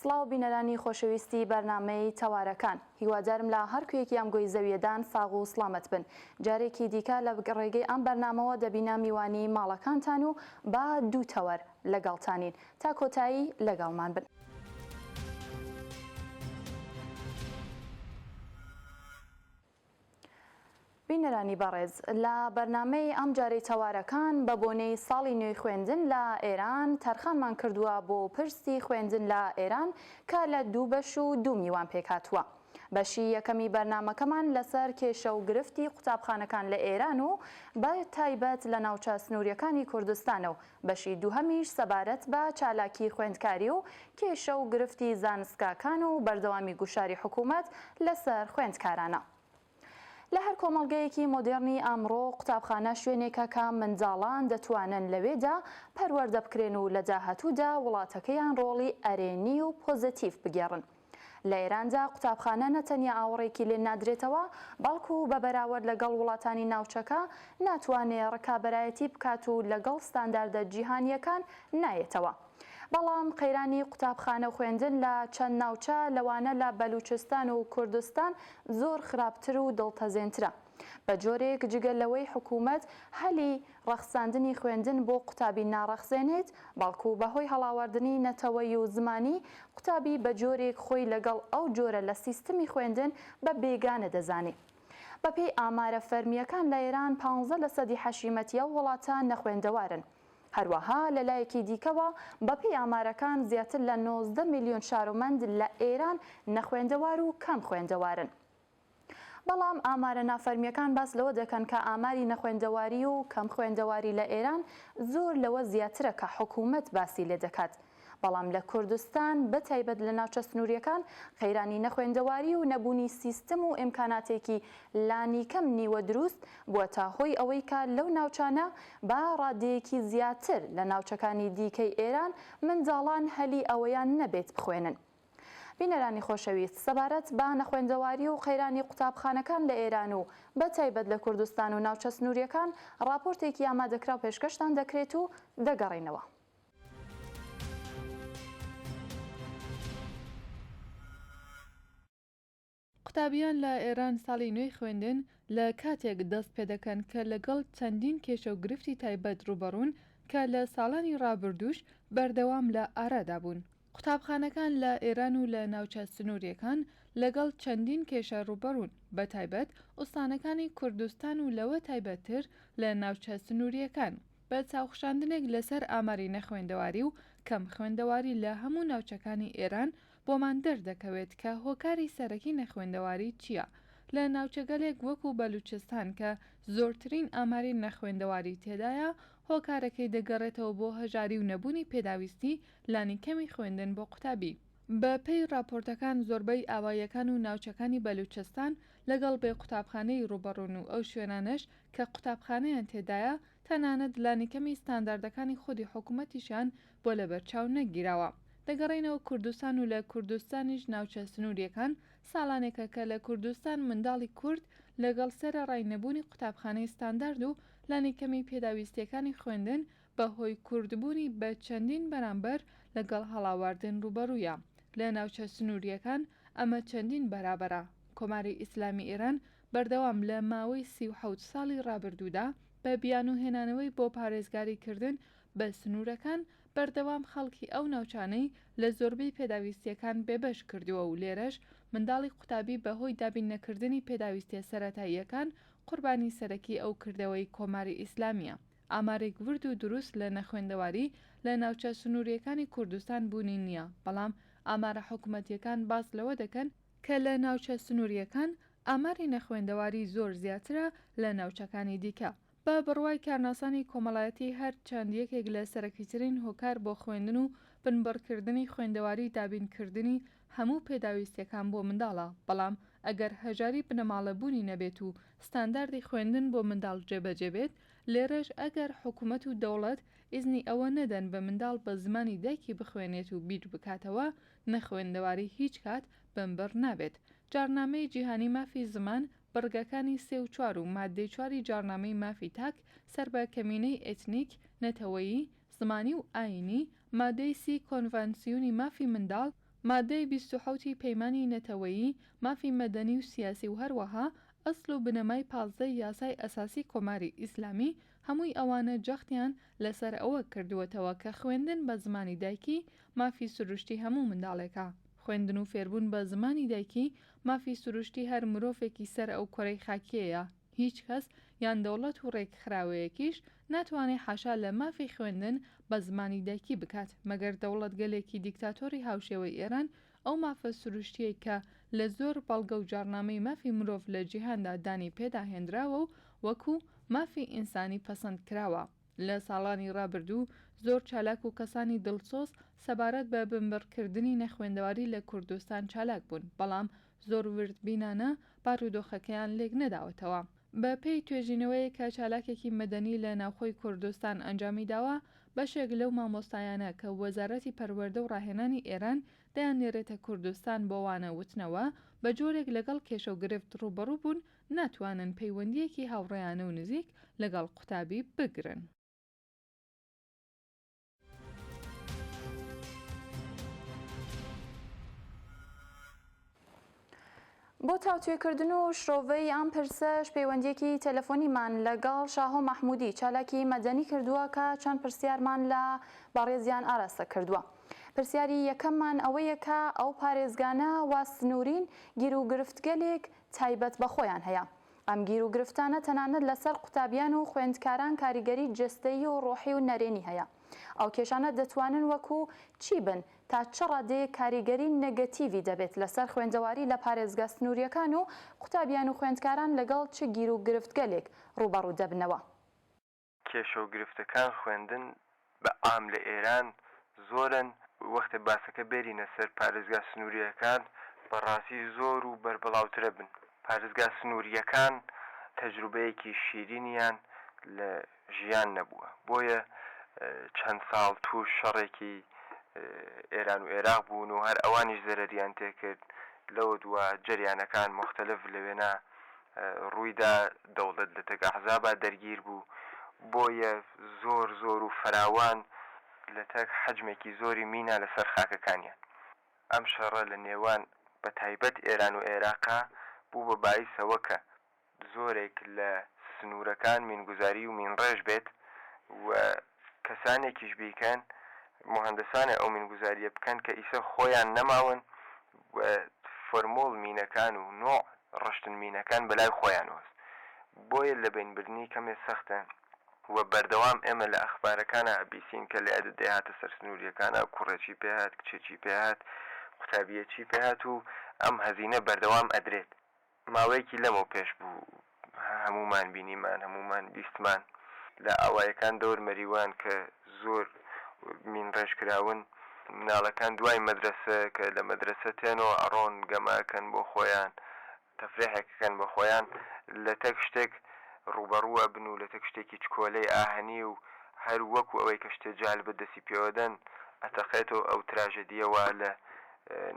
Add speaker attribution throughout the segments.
Speaker 1: سڵاو بینەرانی خۆشەویستی بەرنامەی تەوارەکان هیوادارم لە هەر کوێیەکی ئەم گۆی زەویەدان ساغ و سڵامەت بن جارێکی دیکە لە ڕێگەی ئەم بەرنامەوە دەبینە میوانی ماڵەکانتان و با دوو تەوەر لەگەڵتانین تا کۆتایی لەگەڵمان بن. بینەرانی بەڕێز لە بەرنامەی ئەمجارەی تەوارەکان بە بۆنەی ساڵی نوێی خوێندن لە ئێران تەرخانمان کردووە بۆ پرسی خوێندن لە ئێران کە لە دوو بەش و دوو میوان پێکهاتووە. بەشی یەکەمی بەرنامەکەمان لەسەر کێشە و گرفتی قوتابخانەکان لە ئێران و بە تایبەت لە ناوچە سنووریەکانی کوردستانە و بەشی دووهەمیش سەبارەت بە چالاکی خوێندکاری و کێشە و گرفتی زانستگاکان و بەردەوامی گوشاری حکوومەت لەسەر خوێندکارانە. لە هەر کۆمەڵگەیەکی مۆدێڕنی ئەمڕۆ قوتابخانە شوێنێکە کە منداڵان دەتوانن لەوێدا پەروەردە بکرێن و لە داهاتوودا وڵاتەکەیان ڕۆڵی ئەرێنی و پۆزەتیڤ بگێڕن. لە ئێراندا قوتابخانە نە تەنیا ئاوڕێکی لێ نادرێتەوە، بەڵکو بە بەراوەرد لەگەڵ وڵاتانی ناوچەکە ناتوانێ ڕکابەرایەتی بکات و لەگەڵ ستانداردە جیهانییەکان نایەتەوە. بەڵام قەیرانی قوتابخانە و خوێندن لە چەند ناوچە لەوانە لە بەلووچستان و کوردستان زۆر خراپتر و دڵتەزێنترە. بە جۆرێک جگە لەوەی حکوومەت هەلی ڕەخساندنی خوێندن بۆ قوتابی ناڕەخسێنێت، بەڵکوو بە هۆی هەڵاواردنی نەتەوەی و زمانی، قوتابی بە جۆرێک خۆی لەگەڵ ئەو جۆرە لە سیستمی خوێندن بە بێگانە دەزانێ. بە پێی ئامارە فەرمییەکان لە ئێران پانزە لە سەدی حەشیمەتی ئەو وڵاتە نەخوێندەوارن. هەروەها لە لایەکی دیکەوە بە پێی ئامارەکان زیاتر لە نۆزدە میلیۆن شارومەند لە ئێران نەخوێندەوار و کەم خوێندەوارن. بەڵام ئامارە نافەرمییەکان باس لەوە دەکەن کە ئاماری نەخوێندەواری و کەم خوێندەواری لە ئێران زۆر لەوە زیاترە کە حکوومەت باسی لێ دەکات، بەڵام لە کوردستان بە تایبەت لە ناوچە سنوورییەکان قەیرانی نەخوێندەواری و نەبوونی سیستم و ئیمکاناتێکی لانیکەم نیوە دروست بووەتە هۆی ئەوەی کە لەو ناوچانە بە ڕادەیەکی زیاتر لە ناوچەکانی دیکەی ئێران منداڵان هەلی ئەوەیان نەبێت بخوێنن. بینەرانی خۆشەویست، سەبارەت بە نەخوێندەواری و قەیرانی قوتابخانەکان لە ئێران و بە تایبەت لە کوردستان و ناوچە سنوورییەکان ڕاپۆرتێکی ئامادەکراو پێشکەشتان دەکرێت و دەگەڕێینەوە.
Speaker 2: قوتابیان لە ئێران ساڵی نوێی خوێندن لە کاتێک دەست پێدەکەن کە لەگەڵ چەندین کێشە و گرفتی تایبەت ڕووبەڕوون کە لە ساڵانی ڕابردووش بەردەوام لە ئارادا بوون. قوتابخانەکان لە ئێران و لە ناوچە سنووریەکان لەگەڵ چەندین کێشە ڕووبەڕوون، بە تایبەت ئوستانەکانی کوردستان و لەوە تایبەت تر لە ناوچە سنووریەکان. بە چاوخشاندنێک لەسەر ئاماری نەخوێندەواری و کەم خوێندەواری لە هەموو ناوچەکانی ئێران بۆمان دەردەکەوێت کە هۆکاری سەرەکی نەخوێندەواری چییە لە ناوچەگەلێک وەکو بەلووچستان کە زۆرترین ئاماری نەخوێندەواری تێدایە، هۆکارەکەی دەگەڕێتەوە بۆ هەژاری و نەبوونی پێداویستی لانیکەمی خوێندن بۆ قوتابی. بە پێی ڕاپۆرتەکان زۆربەی ئاواییەکان و ناوچەکانی بەلووچستان لەگەڵ بێ قوتابخانەیی ڕووبەڕوون و ئەو شوێنانەش کە قوتابخانەیان تێدایە تەنانەت لانیکەمی ستانداردەکانی خودی حکوومەتیشیان بۆ لەبەرچاو نەگیراوە دەگەڕێینەوە کوردستان و لە کوردستانیش ناوچە سنوریەکان ساڵانێکە کە لە کوردستان منداڵی کورد لەگەڵ سەرەڕای نەبوونی قوتابخانەی ستاندارد و لانیکەمی پێداویستیەکانی خوێندن بە هۆی کوردبوونی بە چەندین بەرامبەر لەگەڵ هەڵاواردن ڕووبەڕوویە لە ناوچە سنوریەکان ئەمە چەندین بەرابەرە کۆماری ئیسلامی ئێران بەردەوام لە ماوەی سی و حەوت ساڵی ڕابردوودا بە بیانوو هێنانەوەی بۆ پارێزگاری کردن بە سنوورەکان بەردەوام خەڵکی ئەو ناوچانەی لە زۆربەی پێداویستییەکان بێبەش کردووە و لێرەش منداڵی قوتابی بە هۆی دابین نەکردنی پێداویستییە سەرەتاییەکان قوربانی سەرەکی ئەو کردەوەی کۆماری ئیسلامییە. ئامارێک ورد و دروست لە نەخوێندەواری لە ناوچە سنوورییەکانی کوردستان بوونی نییە، بەڵام ئامارە حکوومەتییەکان باس لەوە دەکەن، کە لە ناوچە سنوورییەکان ئاماری نەخوێندەواری زۆر زیاترە لە ناوچەکانی دیکە، بە بڕوای کارناسانی کۆمەڵایەتی هەر چەند یەکێک لە سەرەکیترین هۆکار بۆ خوێندن و بنبڕکردنی خوێندەواری دابینکردنی هەموو پێداویستیەکان بۆ منداڵە بەڵام ئەگەر هەژاری بنەماڵە بوونی نەبێت و ستانداردی خوێندن بۆ منداڵ جێبەجێ بێت لێرەش ئەگەر حکومەت و دەوڵەت ئیزنی ئەوە نەدەن بە منداڵ بە زمانی دایکی بخوێنێت و بیربکاتەوە نەخوێندەواری هیچ کات بنبڕ نابێت جاڕنامەی جیهانی مافی زمان بڕگەکانی سێ و چوار و ماددەی چواری جاڕنامەی مافی تاک سەر بە کەمینەی ئێتنیک، نەتەوەیی، زمانی و ئایینی، ماددەی سی کۆنڤانسیونی مافی منداڵ، ماددەی بیست و حەوت ی پەیمانی نەتەوەیی مافی مەدەنی و سیاسی و هەروەها ئەسڵ و بنەمای پازدە ی یاسای ئەساسی کۆماری ئیسلامی، هەمووی ئەوانە جەختیان لە سەر ئەوە کردووەتەوە کە خوێندن بە زمانی دایکی مافی سروشتی هەموو منداڵێکە. خوێندن و فێربوون بە زمانی دایکی مافی سروشتی هەر مرۆڤێکی سەر ئەو کورەی خاکیەیە، هیچ کەس یان دەوڵەت و ڕێکخراوەیەکیش ناتوانێ حاشا لە مافی خوێندن بە زمانی دایکی بکات، مەگەر دەوڵەتگەلێکی دیکتاتۆری هاوشێوەی ئێران ئەو مافە سروشتیەی کە لە زۆر بەڵگە و جاڕنامەی مافی مرۆڤ لە جیهاندا دانی پێدا هێنراوە و وەکو مافی ئینسانی پەسەند کراوە، لە ساڵانی ڕابردوو زۆر چالاک و کەسانی دڵسۆز سەبارەت بە بنبڕکردنی نەخوێندەواری لە کوردستان چالاک بوون، بەڵام زۆر وردبینانە بارودۆخەکەیان لێک نەداوەتەوە. بە پێی توێژینەوەیەک کە چالاکێکی مەدەنی لە ناوخۆی کوردستان ئەنجامی داوە، بەشێک لەو مامۆستایانە کە وەزارەتی پەروەردە و ڕاهێنانی ئێران دەیاننێرێتە کوردستان بۆ وانە وتنەوە، بە جۆرێک لەگەڵ کێشە و گرفت ڕووبەڕوو بوون ناتوانن پەیوەندییەکی هاوڕێیانە و نزیک لەگەڵ قوتابی بگرن.
Speaker 1: بۆ تاوتوێکردن و شرۆڤەی ئەم پرسەش پەیوەندیەکی تەلەفۆنیمان لەگەڵ شاهۆ مەحمودی چالاکی مەدەنی کردووە کە چەند پرسیارمان لە بەڕێزیان ئاراستە کردووە. پرسیاری یەکەممان ئەوەیە کە ئەو پارێزگانە وا سنوورین گیر و گرفتگەلێک تایبەت بە خۆیان هەیە. ئەم گیر و گرفتانە تەنانەت لە سەر قوتابیان و خوێندکاران کاریگەری جەستەیی و ڕۆحی و نەرێنی هەیە. ئەو کێشانە دەتوانن وەکو چی بن؟ تا چ ڕادەیەک کاریگەری نەگەتیڤی دەبێت لە سەر خوێندەواری لە پارێزگا سنوورییەکان و قوتابیان و خوێندکاران لەگەڵ چ گیر و گرفتگەلێک ڕووبەڕوو دەبنەوە؟ کێشە
Speaker 3: و گرفتەکان خوێندن بە عام لە ئێران زۆرن وەختێ باسەکە بێرینە سەر پارێزگا سنوورییەکان بە ڕاستی زۆر و بەربڵاوترە بن پارێزگا سنوورییەکان تەجروبەیەکی شیرینیان لە ژیان نەبووە بۆیە چەند ساڵ تووش شەڕێکی ئێران و ئێراق بوون و هەر ئەوانیش زەرەریان تێ کرد لەوە دوا جەریانەکان موختەلف لەوێنە ڕوویدا دەوڵەت لە تەک ئەحزابا دەرگیر بوو بۆیە زۆر زۆر و فراوان لە تەک حەجمێکی زۆری مینا لە سەر خاکەکانیان ئەم شەڕە لە نێوان بە تایبەت ئێران و ئێراقا بوو بە بایس ئەوە کە زۆرێک لە سنوورەکان مینگوزاری و مینڕێژ بێت و کەسانێکیش بیکەن موهەندەسانە ئەو مینگوزاریە بکەن کە ئیسە خۆیان نەماون و فۆرمول مینەکان و نوع ڕشتن مینەکان بەلای خۆیانوەس بۆیە لەبەین بردنی کەمێ سەختە و بەردەوام ئێمە لە ئەخبارەکانا ئەبیسین کە لەیادت دەیهاتە سەر سنوریەکانا کوڕێکی پێهات کچێکی پێهات قوتابیەکی پێهات و ئەم هەزینە بەردەوام ئەدرێت. ماوەیەکی لەمەو پێش بوو هەموومان بینیمان هەموومان بیستمان لە ئاوایەکان دەور مەریوان کە زۆر مین ڕێژ کراون مناڵەکان دوای مەدرەسە کە لە مەدرەسە تێنەوە ئەڕۆن گەمە ئەکەن بۆ خۆیان تەفرێحێک ئەکەن بە خۆیان لە تەک شتێک ڕووبەڕوو ئەبن و لە تەک شتێکی چکۆلەی ئاهەنی و هەر وەکو ئەوەی کە شتێ جالبە دەسی پێوەدەن ئەتەقێتەوە ئەو تراژەدیە وا لە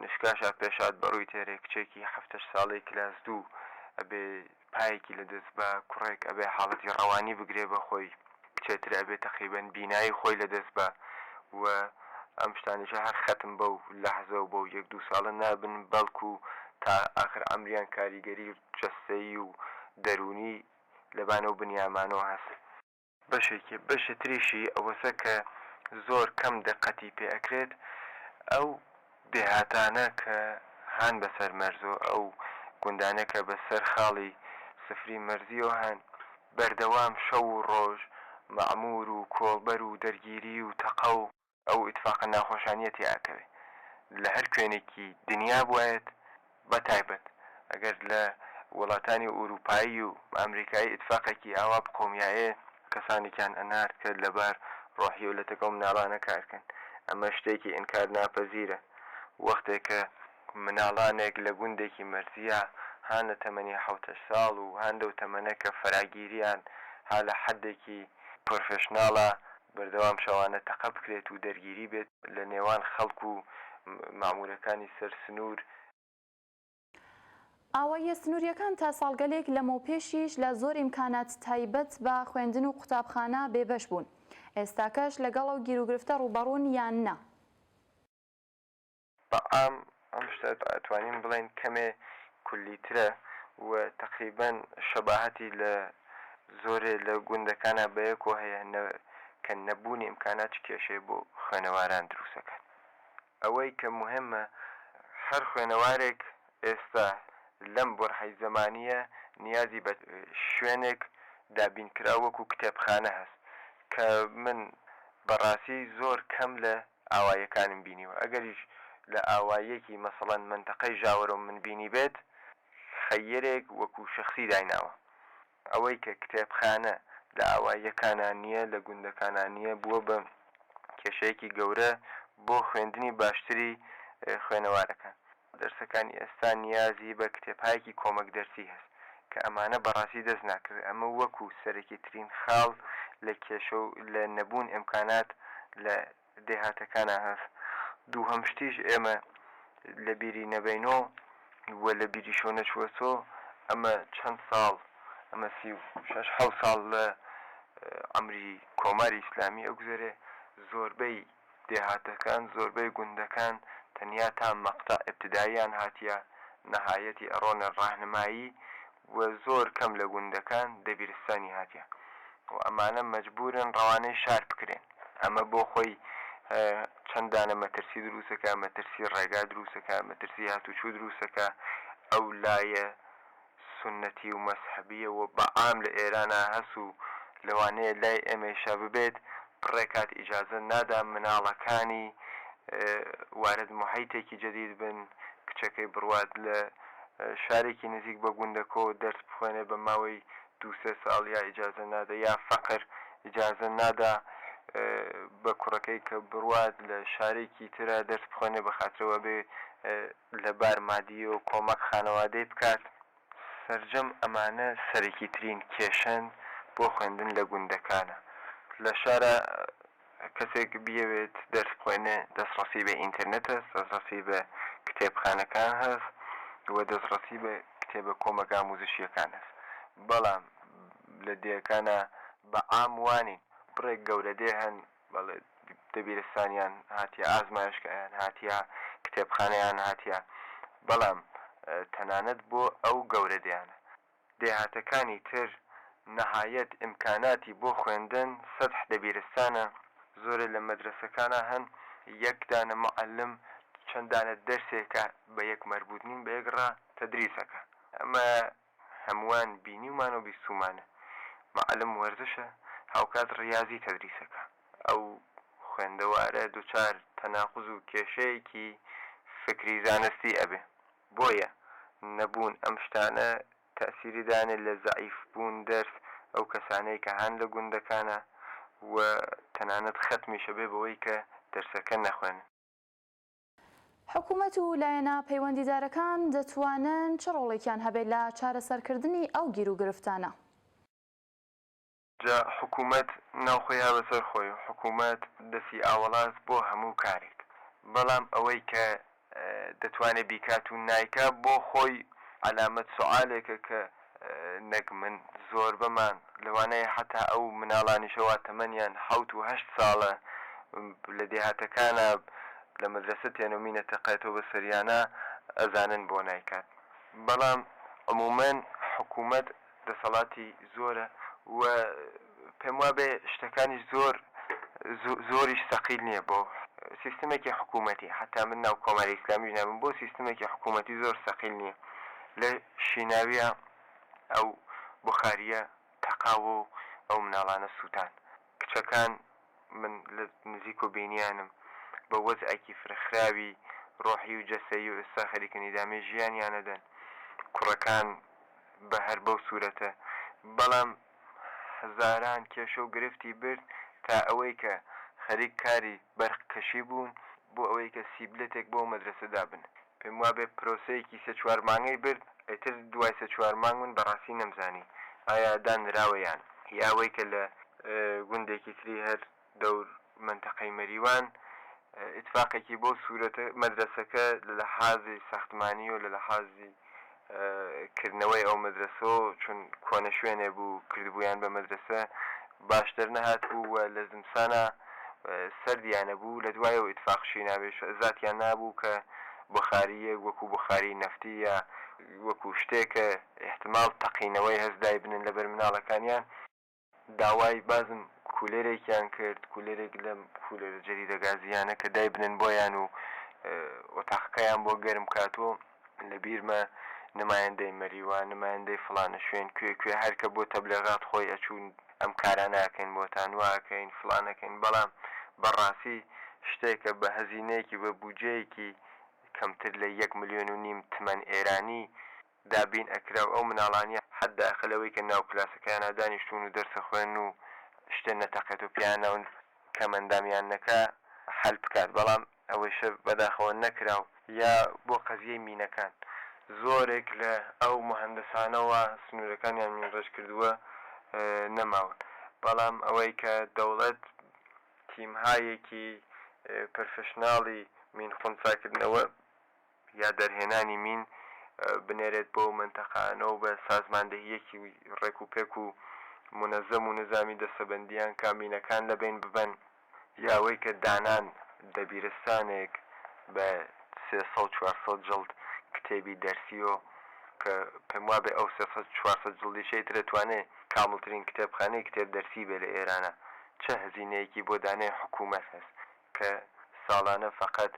Speaker 3: نشکاشا پێشاد بەڕووی تێرێ کچێکی حەفتەش ساڵەی کلاس دوو ئەبێ پایەکی لە دەست با کوڕێک ئەبێ حاڵەتی ڕەوانی بگرێ بە خۆی کچێ تر ئەبێ تەقریبەن بینایی خۆی لە دەست با و ئەم شتانیشە هەر خەتم بەو لەحزە و بەو یەک دوو ساڵە نابن بەڵکو تا ئاخر عەمریان کاریگەری جەستەیی و دەروونی لە بانەو بنیامانۆ هەس بەشێکی بەشی تریشی ئەوەسە کە زۆر کەم دقەتی پێ ئەکرێت ئەو دێهاتانە کە هان بەسەر مەرزۆ ئەو گوندانە کە بە سەر خاڵی سفری مەرزیۆ هەن بەردەوام شەو و ڕۆژ مەعمور و کۆڵبەر و دەرگیری و تەقە و ئەو ئیتفاقە ناخۆشانیە تێ ئەکەوێ لە هەر کوێنێکی دنیا بوایەت بە تایبەت ئەگەر لە وڵاتانی ئوروپایی و ئەمریکایی ئیتفاقێکی ئاوا بقۆمیایێ کەسانێکیان ئەنارد کە لەبار ڕۆحی و لەتەکەو مناڵانە کار کەن ئەمە شتێکی ئینکار ناپەزیرە وەختێ کە مناڵانێک لە گوندێکی مەرزیە هان لە تەمەنی حەوت هەشت ساڵ و هان لەو تەمەنە کە فەراگیریان ها لە حەدێکی پرۆفێشناڵە بەردەوام شەوانە تەقە بکرێت و دەرگیری بێت لە نێوان خەڵک و مەعموورەکانی سەر سنوور.
Speaker 1: ئاواییە سنوورییەکان تا ساڵگەلێک لەمەوپێشیش لە زۆر ئیمکانات تایبەت بە خوێندن و قوتابخانە بێبەش بوون، ئێستاکەش لەگەڵ ئەو گیروگرفتە ڕووبەڕوون یان نا؟ بە
Speaker 3: عام ئەم شتە ئەتوانین بڵێین کەمێ کولیترە و تەقریبەن شەباهەتی لە زۆرێ لە گوندەکانا بە یەکۆ هەیە نە کە نەبوونی ئمکانات چ کێشەیە بۆ خوێنەواران درووست ئەکات. ئەوەی کە موهێمە هەر خوێنەوارێک ئێستا لەم بۆرحەی زەمانییە نیازی بە شوێنێک دابینکراو وەکوو کتێبخانە هەس کە من بە ڕاسی زۆر کەم لە ئاواییەکانم بینیوە ئەگەریش لە ئاواییەکی مەسەڵەن مەنتەقەی ژاوەرۆم من بینیبێت خەیرێک وەکو شەخسی دایناوە ئەوەی کە کتێبخانە لە ئاواییەکانا نییە لە گوندەکانا نییە بووە بە کێشەیەکی گەورە بۆ خوێندنی باشتری خوێنەوارەکان. دەرسەکانی ئێستا نیازی بە کتێبهایەکی کۆمەک دەرسی هەس کە ئەمانە بەڕاستی دەست ناکەوێ ئەمە وەکو سەرەکی ترین خاڵ لە کێشە و لە نەبوون ئێمکانات لە دێهاتەکانا هەس دووهەم شتیش ئێمە لە بیری نەبەینۆ و لە بیریشۆ نەچووەسۆ ئەمە چەند ساڵ ئەمە سی و شەش حەوت ساڵ لە عەمری کۆماری ئیسلامی ئەگوزەرێ زۆربەی دێهاتەکان زۆربەی گوندەکان تەنیا تا مەقتەع ئیبتداییان هاتیە نەهایەتی ئەڕۆنە ڕاهنمایی و زۆر کەم لە گوندەکان دەبیرستانی هاتیە و ئەمانە مەجبورن ڕەوانەی شار بکرێن ئەمە بۆ خۆی چەند دانە مەترسی دروست ئەکا مەترسی ڕێگا دروست ئەکا مەترسی هاتوچو دروست ئەکا ئەو لایە سوننەتی و مەزهەبیە و بە عام لە ئێرانا هەس و لەوانەیە لای ئێمەیشا ببێت، بڕێ کات ئیجازە نادا مناڵەکانی وارد موحیتێکی جەدید بن، کچەکەی بڕوات لە شارێکی نزیک بە گوندەکۆ دەرس بخوێنێ بە ماوەی دوو سێ ساڵ یا ئیجازە نادا یا فەقر ئیجازە نادا بە کوڕەکەی کە بڕوات لە شارێکی ترا دەرس بخوێنێ بە خاترئەوە بێ لەبار مادیەوە کۆمەک خانەوادەی بکات، سەرجەم ئەمانە سەرەکیترین کێشەن بۆ خوێندن لە گوندەکانا، لە شارا کەسێک بیەوێت دەرس بخوێنێ دەسڕەسی بە ئینتەرنێت هەس، دەسڕەسی بە کتێبخانەکان هەس و دەسڕەسی بە کتێبە کۆمەک ئاموزشیەکان هەس، بەڵام لە دێەکانا بە عام وانین، بڕێک گەورە دێ هەن بەڵێ دەبیرستانیان هاتیە، ئازمایشگایان هاتیە، کتێبخانەیان هاتیە، بەڵام تەنانەت بۆ ئەو گەورە دێانە دێهاتەکانی تر نەهایەت ئیمکاناتی بۆ خوێندن سەدح دەبیرستانە، زۆرێ لە مەدرەسەکانا هەن یەک دانە موعەلم چەند دانە دەرسێکە بە یەک مەربووت نین بە یەک ڕا تەدریس ئەکا، ئەمە هەمووان بینیومان و بیستوومانە معەلم وەرزشە هاوکات ریازی تەدریسەکا ئەو خوێندەوارە دوچار تەناقوز و کێشەیەکی فکری زانستی ئەبێ بۆیە نەبوون ئەم شتانە تەئسیری دانێ لە زەعیف بوون دەرس ئەو کەسانەی کە هان لە گوندەکانە و تەنانەت خەتمیش ئەبێ بەوەی کە دەرسەکە نەخوێنن. حکومەت
Speaker 1: و لایەنە پەیوەندیدارەکان دەتوانن چ ڕۆڵێکیان هەبێت لە چارەسەرکردنی ئەو گیروگرفتانە؟
Speaker 3: جا حکومەت ناوخۆی ها بەسەر خۆی و حکومەت دەسی ئاوەڵاست بۆ هەموو کارێک، بەڵام ئەوەی کە دەتوانێت بیکات و نایکا بۆ خۆی عەلامەت سوعالێکە کە نەک من زۆربەمان لەوانەیە حەتا ئەو مناڵانیشە وا تەمەنیان حەوت و هەشت ساڵە لە دێهاتەکانە لە مەدرەسە تێنو مینە تەقێتۆ بە سەریانا ئەزانن بۆ نایکات بەڵام عمومەن حکومەت دەسەڵاتی زۆرە و پێم وابێ شتەکانیش زۆر زۆریش سەقیل نیە بۆ سیستمێکی حکومەتی حەتا من ناو کۆماری ئیسلامیش نابم بۆ سیستمێکی حکومەتی زۆر سەقیل نیە لە شیناویا ئەو بوخاریە تەقاوە و ئەو مناڵانە سوتان کچەکان من لە نزیک و بینیانم بە وەزعێکی فرەخراوی ڕۆحی و جەسەیی و ئێستا خەریکن ئیدامەی ژیانیانەدەن کوڕەکان بە هەر بەو سورەتە بەڵام هەزاران کێشە و گرفتی برد تا ئەوەی کە خەریک کاری بەرق کەشی بوون بۆ ئەوەی کە سیبلەتێک بۆ مەدرەسە دابنن پێم وابێ پرۆسەیەکی سێ چوار مانگەی برد ئیتر دوای سێ چوار مانگ من بەڕاستی نەمزانی ئایا دانراوە یان ئەوەی کە لە گوندێکی تری هەر دەور مەنتەقەی مەریوان ئیتفاقێکی بۆ سورەتە مەدرەسەکە لە لەحازی ساختمانی و لە لەحازی کردنەوەی ئەو مەدرەسەو چون کۆنە شوێنێ بوو کردبوویان بە مەدرەسە باش دەرنەهات بوو و لە زمسانا سەردیانە بوو لە دوایەوە ئیتفاق شینابێ زاتیان نابوو کە بۆخارییەک وەکوو بۆخاری نەفتی یا وەکوو شتێ کە ئیحتمال تەقینەوەی هەست دایبنن لە بەر مناڵەکانیان. داوای بازم کولێرێکیان کرد، کولێرێک لەم کولێرە جەدیدە گازییانە کە دایبنێن بۆیان و ئۆتاقەکەیان بۆ گەرم بکات و لە بیرمە نمایندەی مەریوان، نمایندەی فڵانە شوێن، کوێ کوێ هەر کە بۆ تەبلێغات خۆی ئەچوو ئەم کارانە ئەکەین بۆتان، وا ئەکەین، فڵان ئەکەین، بەڵام بە ڕاستی شتێکە بە هەزینەیەکی، بە بوودجەیەکی کەمتر لە یەک ملیۆن و نیم تمەن ئێرانی، دابین ئەکرا و ئەو مناڵانیە حەدداقل ئەوەی کە ناو کلاسەکەیانا دانیشتوون و دەرس ئەخوێنن و شتێ نەتەقێت و پێیان ناون کەمئەندامیاننەکە حەل بکات بەڵام ئەوەیشە بەداخەوە نەکرا و. یا بۆ قەزیەی مینەکان زۆرێک لە ئەو موهەندەسانە وا سنوورەکانیان مینڕێژ کردووە نەماون بەڵام ئەوەی کە دەوڵەت تیمهایەکی پرفشناڵی مین خونساکردنەوە یا دەرهێنانی مین بنێرێت بەو مەنتەقانە و بە سازماندەهییەکی ڕێک و پێک و مونەزەم و نزامی دەستەبەندییان کا مینەکان لە بەین ببەن، یا ئەوەی کە دانان دەبیرستانێک بە سێ سەد چوار سەد جڵد کتێبی دەرسی و کە پێم وابێ ئەو سێ سەد چوار سەد جڵدیشەی تر ئەتوانێ کامڵترین کتێبخانەی کتێب دەرسی بێ لە ئێرانە چە هەزینەیەکی بۆ دانێ حکوومەت هەس کە ساڵانە فەقەت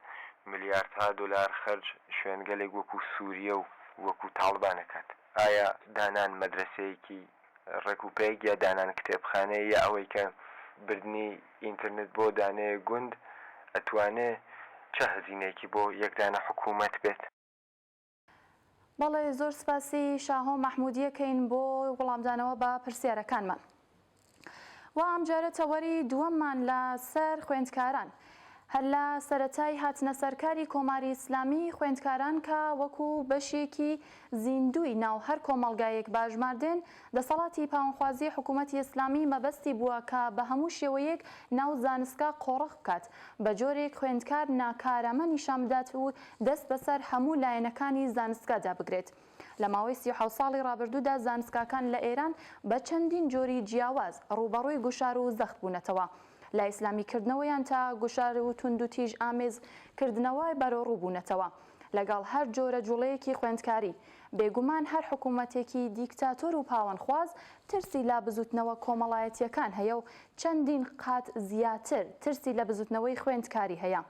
Speaker 3: ملیاردها دۆلار خەرج شوێنگەلێک وەکو سووریە و وەکو تاڵبان ئەکات. ئایا دانان مەدرەسەیەکی ڕێک و پێک یا دانان کتێبخانەیە یا ئەوەی کە بردنی ئینترنت بۆ دانەیەک گوند ئەتوانێ چە هەزینەیەکی بۆ یەک دانە حکوومەت بێت؟
Speaker 1: بەڵێ زۆر سپاسی شاهۆ مەحمودیە کەین بۆ وڵامدانەوە بە پرسیارەکانمان وە ئەمجارە تەوەری دووەممان لە سەر خوێندکاران هەر لە سەرەتای هاتنە سەرکاری کۆماری ئیسلامی خوێندکاران کە وەکو بەشێکی زیندووی ناو هەر کۆمەڵگایەک باژماردێن دەسەڵاتی پاوەنخوازی حکوومەتی ئیسلامی مەبەستی بووە کە بە هەموو شێوەیەک ناو زانستگا قۆڕخ بکات، بە جۆرێک خوێندکار ناکارامە نیشان بدات و دەست بەسەر هەموو لایەنەکانی زانستگادا بگرێت. لە ماوەی سی و حەوت ساڵی ڕابردوودا زانستگاکان لە ئێران بە چەندین جۆری جیاواز ڕووبەڕووی گوشار و زەخت بوونەتەوە لە ئیسلامیکردنەوەیان تا گوشار و توندوتیژ ئامێز کردنەوە بەرەوڕوو بوونەتەوە. لەگەڵ هەر جۆرە جوڵەیەکی خوێندکاری، بێگومان هەر حکوومەتێکی دیکتاتۆر و پاوەنخواز ترسی لە بزووتنەوە کۆمەڵایەتییەکان هەیە و چەندین قات زیاتر ترسی لە بزووتنەوەی خوێندکاری هەیە.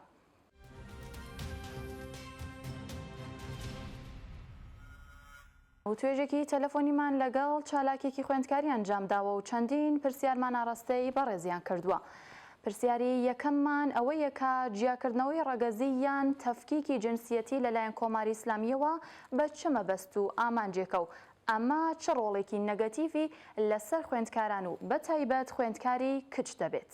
Speaker 1: وتوێژێکی تەلەفۆنیمان لەگەڵ چالاکێکی خوێندکاری ئەنجام داوە و چەندین پرسیارمان ئاڕاستەی بەڕێزیان کردووە. پرسیاری یەکەممان ئەوەیە کە جیاکردنەوەی ڕەگەزی یان تەفکیکی جنسیەتی لەلایەن کۆماری ئیسلامییەوە بە چ مەبەست و ئامانجێکە و ئەمە چ ڕۆڵێکی نەگەتیڤی لەسەر خوێندکاران و بەتایبەت خوێندکاری کچ دەبێت؟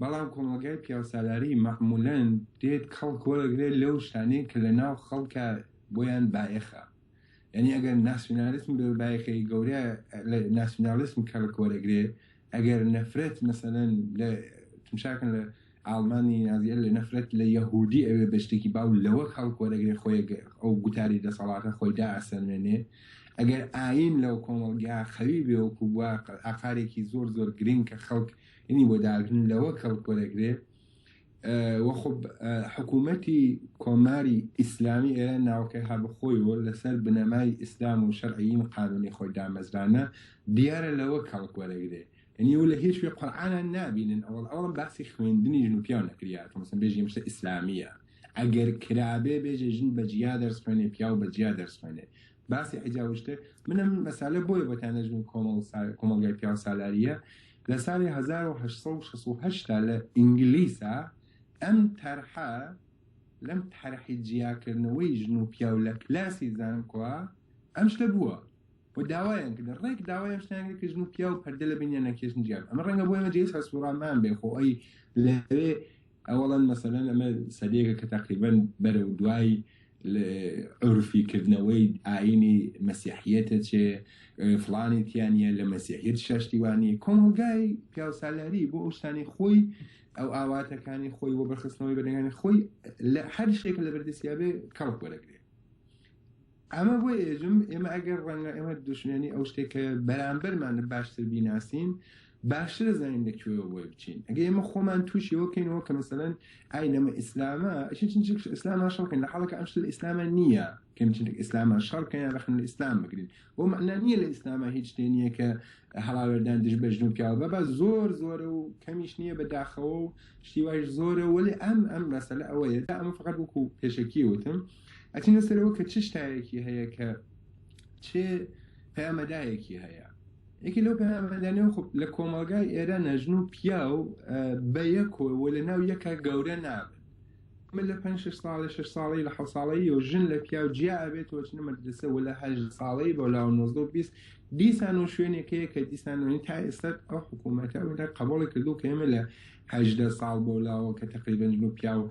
Speaker 4: بەڵام کۆمەڵگای پیاوسالاری مەعمولەن دێت کەڵک وەرەگرێت لەو شتانەی کە لە ناو خەڵکە بۆیان بایەخە یعنی ئەگەر ناسیونالیسم بێ بایەخەی گەورە لە ناسیونالیسم کەڵک وەرەگرێت ئەگەر نەفرەت مەسەلەن لە تمشاکن لە ئاڵمانی نازیە لە نەفرەت لە یەهودی ئەوێ بە شتێکی باو لەوە کەڵک وەرەگرێت خۆی ئەو گوتاری دەسەڵاتە خۆی دا ئەسەلمێنێ ئەگەر ئاین لەو کۆمەڵگا خەوی بێ وەکو بووە ئاقارێکی زۆر زۆر گرنگ کە خەڵک ینی بۆ داگرن لەوە کەڵک وەرەگرێ وە خۆ حکوومەتی کۆماری ئیسلامی ئێرە ناوکەی هەبخۆی و لەسەر بنەمای ئیسلام و شەرعین قانونی خۆی دامەزرانە دیارە لەوە کەڵک وەرەگرێ ینی و لە هیچ شوێ قورآانان نابینن ئەوڵ ئەوڵم باسی خوێندنی ژن و پیاو نەکریات مەسن بێژی مشتە ئیسلامیە ئەگەر کرابێ بێژێ ژن بەجیا دەرس خوێنێ پیاو بەجیا دەرس خوێنێ باسی حجاوشتێ منم مەسالە بۆیە بەتان نەژمن کۆمەڵ کۆمەڵگای پیاو سالاریە لە ساڵی هەزار و هەشت سەد و شەست و هەشت دا لە ئینگلیسا ئەم تەرحە لەم تەرحی جیاکردنەوەی ژن و پیاو لە کلاسی زانکۆا ئەم شتە بووە و داوایان کرد ڕێک داوای ئەم شتیان کرد کە ژن و پیاو پەردە لە بینیان نەکێشن جیاب ئەمە ڕەنگە بۆ ئێمە جێی سەرسوڕامان بێ خۆ ئەی لەوێ ئەوەڵەن مەسەلەن ئەمە سەدەیەکە کە تەقریبەن بەرەو دوای عرفی کردنەوەی ئاینی مەسیحیەتە چێ فلانی تیانە لە مەسیحیت شەشتیوانی کۆمەلگای پیاوسالاری بۆ ئەو شتانی خۆی ئەو ئاواتەکانی خۆی وە بەخستنەوەی بەنەکانی خۆی لە هەر شتێک لە بەردەسیابێ کەڵک وەرەگرێت ئەمە بۆی ئێژم ئێمە ئەگەر ڕەنگە ئێمە دوشمێنی ئەو شتێک کە بەرامبەرمان لە باشتر بیناسین باشتر زانین لە کوێوە بۆی بچین ئەگە ئێمە خۆمان تووشی وەکەینەوە کە مەسەن ئای لەمە ئیسلامە ئیسلاما شەڵکەین لە حڵەکە ئەمش لە ئیسلامە نییە کەمچینێک ئیسلاما شەڕکەیان ڕخن لە ئیسلام بگرین بۆ مەنا نییە لە ئیسلاما هیچ شتێ نییە کە هەڵاوێردان دژ بەژن و پیاوە بە زۆر زۆرە و کەمیش نییە بە داخەوە و شتیواش زۆرە وەێ ئەم ئەم مەسەلە ئەوەیە دا ئەمە فقط وەکو پێشکی وتم ئەچینە سەرەوە کە چ شتایەکی هەیە کە چ پەیامەدایەکی هەیە یەکی لەو پەیامەدانە خب لە کۆمەلگای ئێرە نەژن و پیا و بە یەکۆەوە لە ناو یەکە گەورە نابن من لە 5 ساڵی 6 ساڵی لە حە ساڵی و ژن لە پیا و جیا ئەبێت وەچنە مەدرسە و لە هەژ ساڵی بۆ لا 1920 دیسان و شوێنێکەیە کە دیسانەوەی تا ئێستا ئەو حکوومەتە ئەودا قبوڵی کردو کەێمە لە هەدە ساڵ بۆ لاوە کە تقریبنجن و پیا و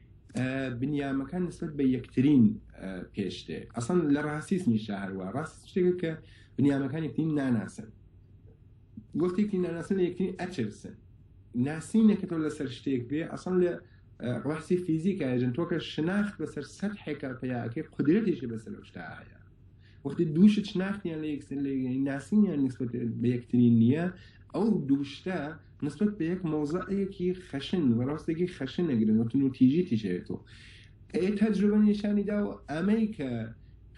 Speaker 4: بنیامەکان نسبەت بە یەکترین پێشتێ ئەسان لە ڕاستیس نیشا هەروە ڕاست شتێکە کە بنیامەکان یەکترین ناناسن وەختێکی ناناسن لە یەکترین ئەچرسن ناسینەکەەوە لەسەر شتێک بێ ئەسان لە ڕاستی فیزیکە ژن تۆکە شناخت بەسەر سەد حێکا پیاکەی قدرەتیشی بەسەر شتا هەیە وەختی دووشت شناختیان لە یەکسەر لە ناسینیان نسبەت بە یەکترین نییە ئەو دووشتە نسبەت بە یەک مەوزەعێکی خەشن و ڕاستێکی خەشن ئەگرن و تونوتیژی تیژ ئەیەتەوە. ئەیە تەجروبە نیشانی داوە ئەمەی کە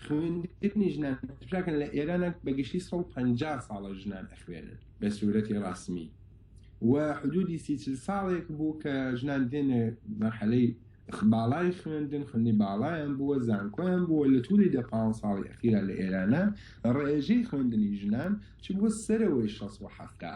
Speaker 4: خوێندنی ژنان تفراکەن لە ئێرانە بە گشتی سەد و پەنجا ساڵە ژنان ئەخوێنن بە سوورەتی ڕەسمی و حدودی سی چل ساڵێک بوو کە ژنان دێنە مەرحەلەی باڵای خوێندن خوێندنی باڵایان بووە زانکۆیان بووە لە تووری دە پان ساڵی ئەخیرا لە ئێرانە ڕێژەی خوێندنی ژنان چ بووە سەرەوەی شەست و حەفتا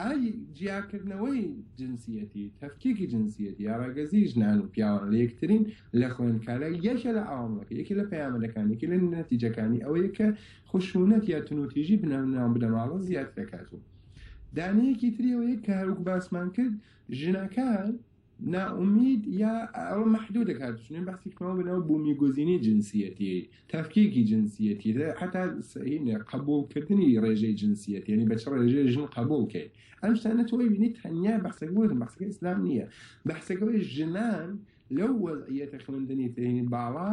Speaker 4: ئای جیاکردنەوەی جنسیەتی، تەفکیکی جنسیەتی یا ڕەگەزی ژنان و پیاوان لە یەکترین لە خوێندکارە یەکێ لە عەوامڵەکە یەکێ لە پەیامەدەکان یەکێ لە نەتیجەکانی ئەوەیە کە خشونەت یا تونوتیژی بنەوناو بنەماڵە زیاتر دەکات و دانەیەکی تریەوەیە کە هەروک باسمان کرد ژنەکان نائومید یا ئەوە مەحدودە کاک دوشمن بەسی کەمەوە بەناو بوومیگوزینی جنسیەتی تەفکیکی جنسیەتی حتا سەینە قبولکردنی ڕێژەی جنسیەتی ینی بەچ ڕێژەی ژن قبولکەین ئەم شتانە تۆی بینی تەنیا بەسەک بوون بەسەکە ئیسلام نییە بەسەکەەوەی ژنان لەو وەزعیەتە خوێندنی تێنی باڵا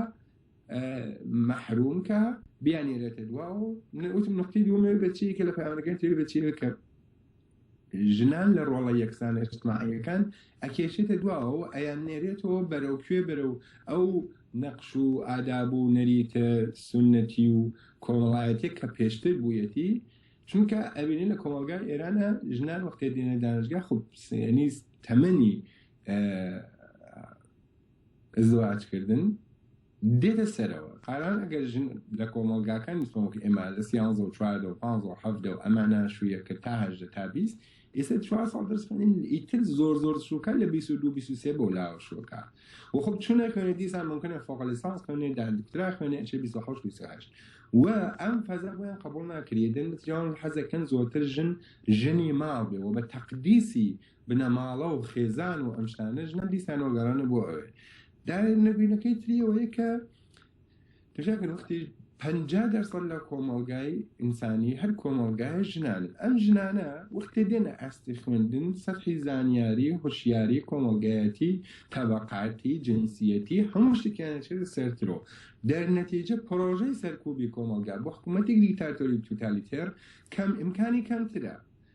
Speaker 4: محرومکە بیانێرێتە دواوە وتم نقطی دومێ بەچی کە لە پامەکان تێ بەچی کە ژنان لە ڕۆڵە یەکسانە ئیجتماعیەکان ئەکێشێتە دواوە و ئەیاننێرێتەوە بەرەو کوێ بەرەو ئەو نەقش و ئاداب و نەریتە سونەتی و کۆمەڵایەتێک کە پێشتر بوویەتی چونکە ئەبینین لە کۆمەلگای ئێرانە ژنان وەختێ دێنە دانشگا خوبسێنی تەمەنی زواجکردن دێتە سەرەوە، قارەمان ئەگەر ژن لە کۆمەڵگاکانی سۆنگ ئێما لە سیانزە و چواردە و پانزە و حەڤدە و ئەما ناشوویە کرد تا هەژدە تا بیست ئیسە چوار ساڵ دەرس خوێنین ئیتر زۆر زۆر شووکە لە بیست و دوو بیست و سێ بەو لاوە شووکە و خۆ چونە خوێنێ دیسان ممکنە فۆق لیسانس خوێنێ دا دکترا خوێنێ ئەچێ بیست و حەوشت بیست و هەشت و ئەم فەزا بۆیان قبوڵ ناکرێ دەن نەتیجەوان حەزەکەن زۆرتر ژن ژنی ماڵ بێ و بە تەقدیسی بنەماڵە و خێزان و ئەم شتانە ژنان دیسانەوە گەڕانە بۆ ئەوێ نەبینەکەی تری ئەوەیە کە تژاکە وەختی پ دەرسەر لە کۆمەڵگای ئینسانی هەر کۆمەڵگای ژنان ئەم ژنانە وەختێ دێنە ئاستی خوێندن سەرحی زانیاری هۆشیاری کۆمەڵگایەتی تەبقاتی جنسیەتی هەموو شتێکیانەچێت سەرترۆ دەرنەتیجە پرۆژەی سەرکوبی کۆمەلگا بۆ حکوومەتێک دیکتاتۆری توتالیتێر کەم ئیمکانی کەمترە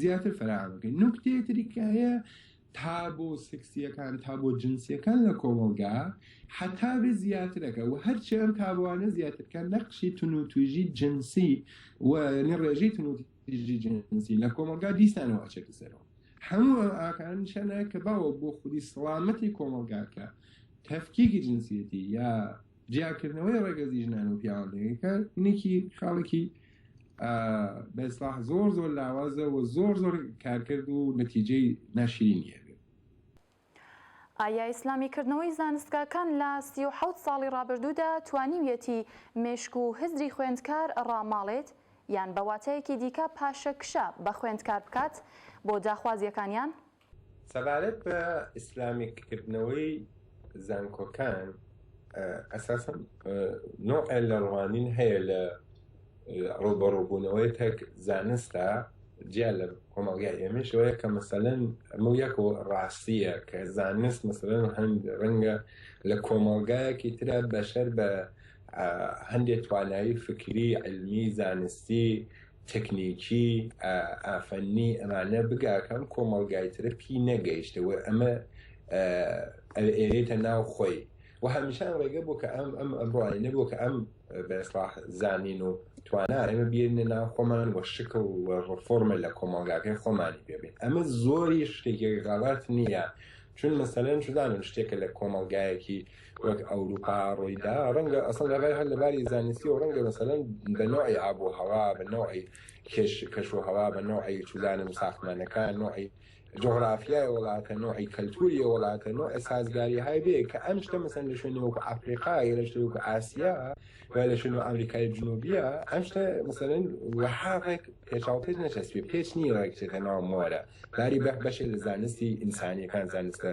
Speaker 4: زیاتر فەراهەم بکەین نوکتەیە تری کە هەیە تا بۆ سکسیەکان تا بۆ جنسیەکان لە کۆمەڵگا حتا بێ زیاترەکە و هەرچی ئەم تابوانە زیاترکە نەقشی تون و توژی جنسی و ینی ڕێژەی تون توژی جنسی لە کۆمەلگا دیسانەوە ئەچێتە سەرەوە هەموو ئەم ئاکارن نیشانە کە باوە بۆ خودی سەڵامەتی کۆمەلگاکە تەفکیکی جنسیەتی یا جیاکردنەوەی ڕەگەزی ژنان و پیاوان لەیەکتر نێکی خاڵێکی بەسلاح زۆر زۆر لاوازە و زۆر زۆر کارکرد و نەتیجەی ناشرین هەیە
Speaker 1: ئایا ئیسلامی کردنەوەی زانستگاکان لە سی و حەوت ساڵی ڕابردوودا توانیویەتی مێشک و هزری خوێندکار ڕاماڵێت یان بە واتایەکی دیکە پاشەکشە بە خوێندکار بکات بۆ داخوازیەکانیان؟ سەبارەت
Speaker 4: بە ئیسلامیک کردنەوەی زانکۆکان ئەساسەن نۆعێ لە ڕوانین هەیە لە ڕوبەڕوبوونەوەی تەک زانستە جیا لە کۆمەڵگای ئێمەشەوەیە کە مەسەەن ئەمە یەک و ڕاستیە کە زانست مەسەن هەند ڕەنگە لە کۆمەڵگایەکی تررا بەشەر بە هەندێک توانایی فکری علمی زانستی تەکنیکی ئافەننی ئەمانە بگا کەم کۆمەڵگای ترە پی نەگەیشتە وە ئەمە ئێرێتە ناو خۆی و هەمیشان ڕێگە بۆ کە ئەم ئەم ئەمڕۆی نەبوو کە ئەم بەسڵاح زانین و توانا ئێمە بێنە ناو خۆمان وە شکڵ و ڕفۆرمە لە کۆمەڵگاکەی خۆمانی پێبین ئەمە زۆری شتێکی غەڵات نییە چون مەسەلەن شدانم شتێکە لە کۆمەڵگایەکی وەک ئەوروپا ڕوویدا ڕەنگە ئەسڵ لە بای هەر لە باری زانستیەوە ڕەنگە مەسەلەن بە نەوعی ئاب و هەوا بە نەوعی کێش کەش و هەوا بە نەوعی چولانە و ساختمانەکان نوعی جغرافیای وڵاتە نوعی کەلتوری وڵاتە نوع سازگاری های بێ کە ئەم شتە مەسەن لە شوێنی وەکو ئەفریقا یا لە شتێک وەکو ئاسیا یا لە شوێنی ئەمریکای جنوبیە ئەم شتە مەسەن وەها ڕێک پێچاو پێت نەچەسپێ پێچ نیە ڕێک چێتە ناو مۆرە باری بەک بەشێ لە زانستی ئینسانیەکان زانستە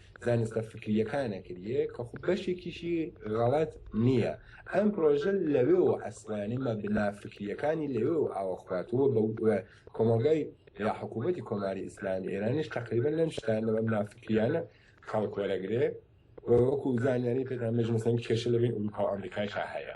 Speaker 4: زانستە فکرییەکانە کریێ کە خۆ بەشێکیشی غەڵەت نییە ئەم پرۆژە لەوێوە ئەسڵانی مەبنا فکرییەکانی لەوێوە ئاوە خواتووە بە کۆمەڵگای یا حکوومەتی کۆماری ئیسلامی ئێرانیش تەقریبەن لەم شتان لە مەبنا فکرییانە کەڵک وەرەگرێ وەکوو زانیاری پێتان بێژم مەسەن کێشە لەبین ئورووپا و ئەمریکایشا هەیە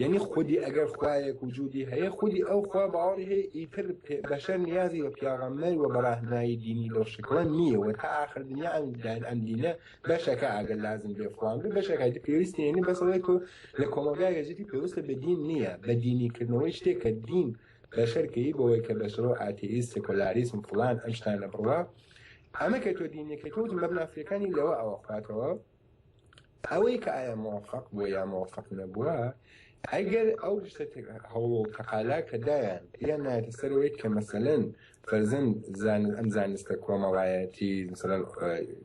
Speaker 4: یەنی خودی ئەگەر خوایەک وجودی هەیە خودی ئەو خوا باوەڕی هەیە ئیتر بەشەر نیازی بە پیاغەمبەر وە بەڕاهنمایی دینی لەو شکڵە نیە وە تا ئاخر دنیا ئەم داین ئەم دینە بەشەکە ئەگەر لازم بێ فڵان بێ بەشەکە ئیتر پێویست نیە یەنی بەس ئەوەی تۆ لە کۆمەڵگایەک ئەژیتی پێوستە بە دین نیە بە دینی کردنەوەی شتێک کە دین بەشەر کەی بەوەی کە بەشەرۆ ئاتێیست سێکۆلاریسم فڵان ئەم شتانە بڕوا ئەمە کە تۆ دینەکەی تۆ مەبناسیەکانی لەوە ئەوە خواتەوە. ئەوەی کە ئایا موفق بووە یا موفق نەبووە ئەگەر ئەو شتە هەوڵ تەقالا کە دایان یان نایەتە سەرەوەی کە مەسەلەن فەرزن زان ئەم زانستە کۆمەڵایەتی مثلەن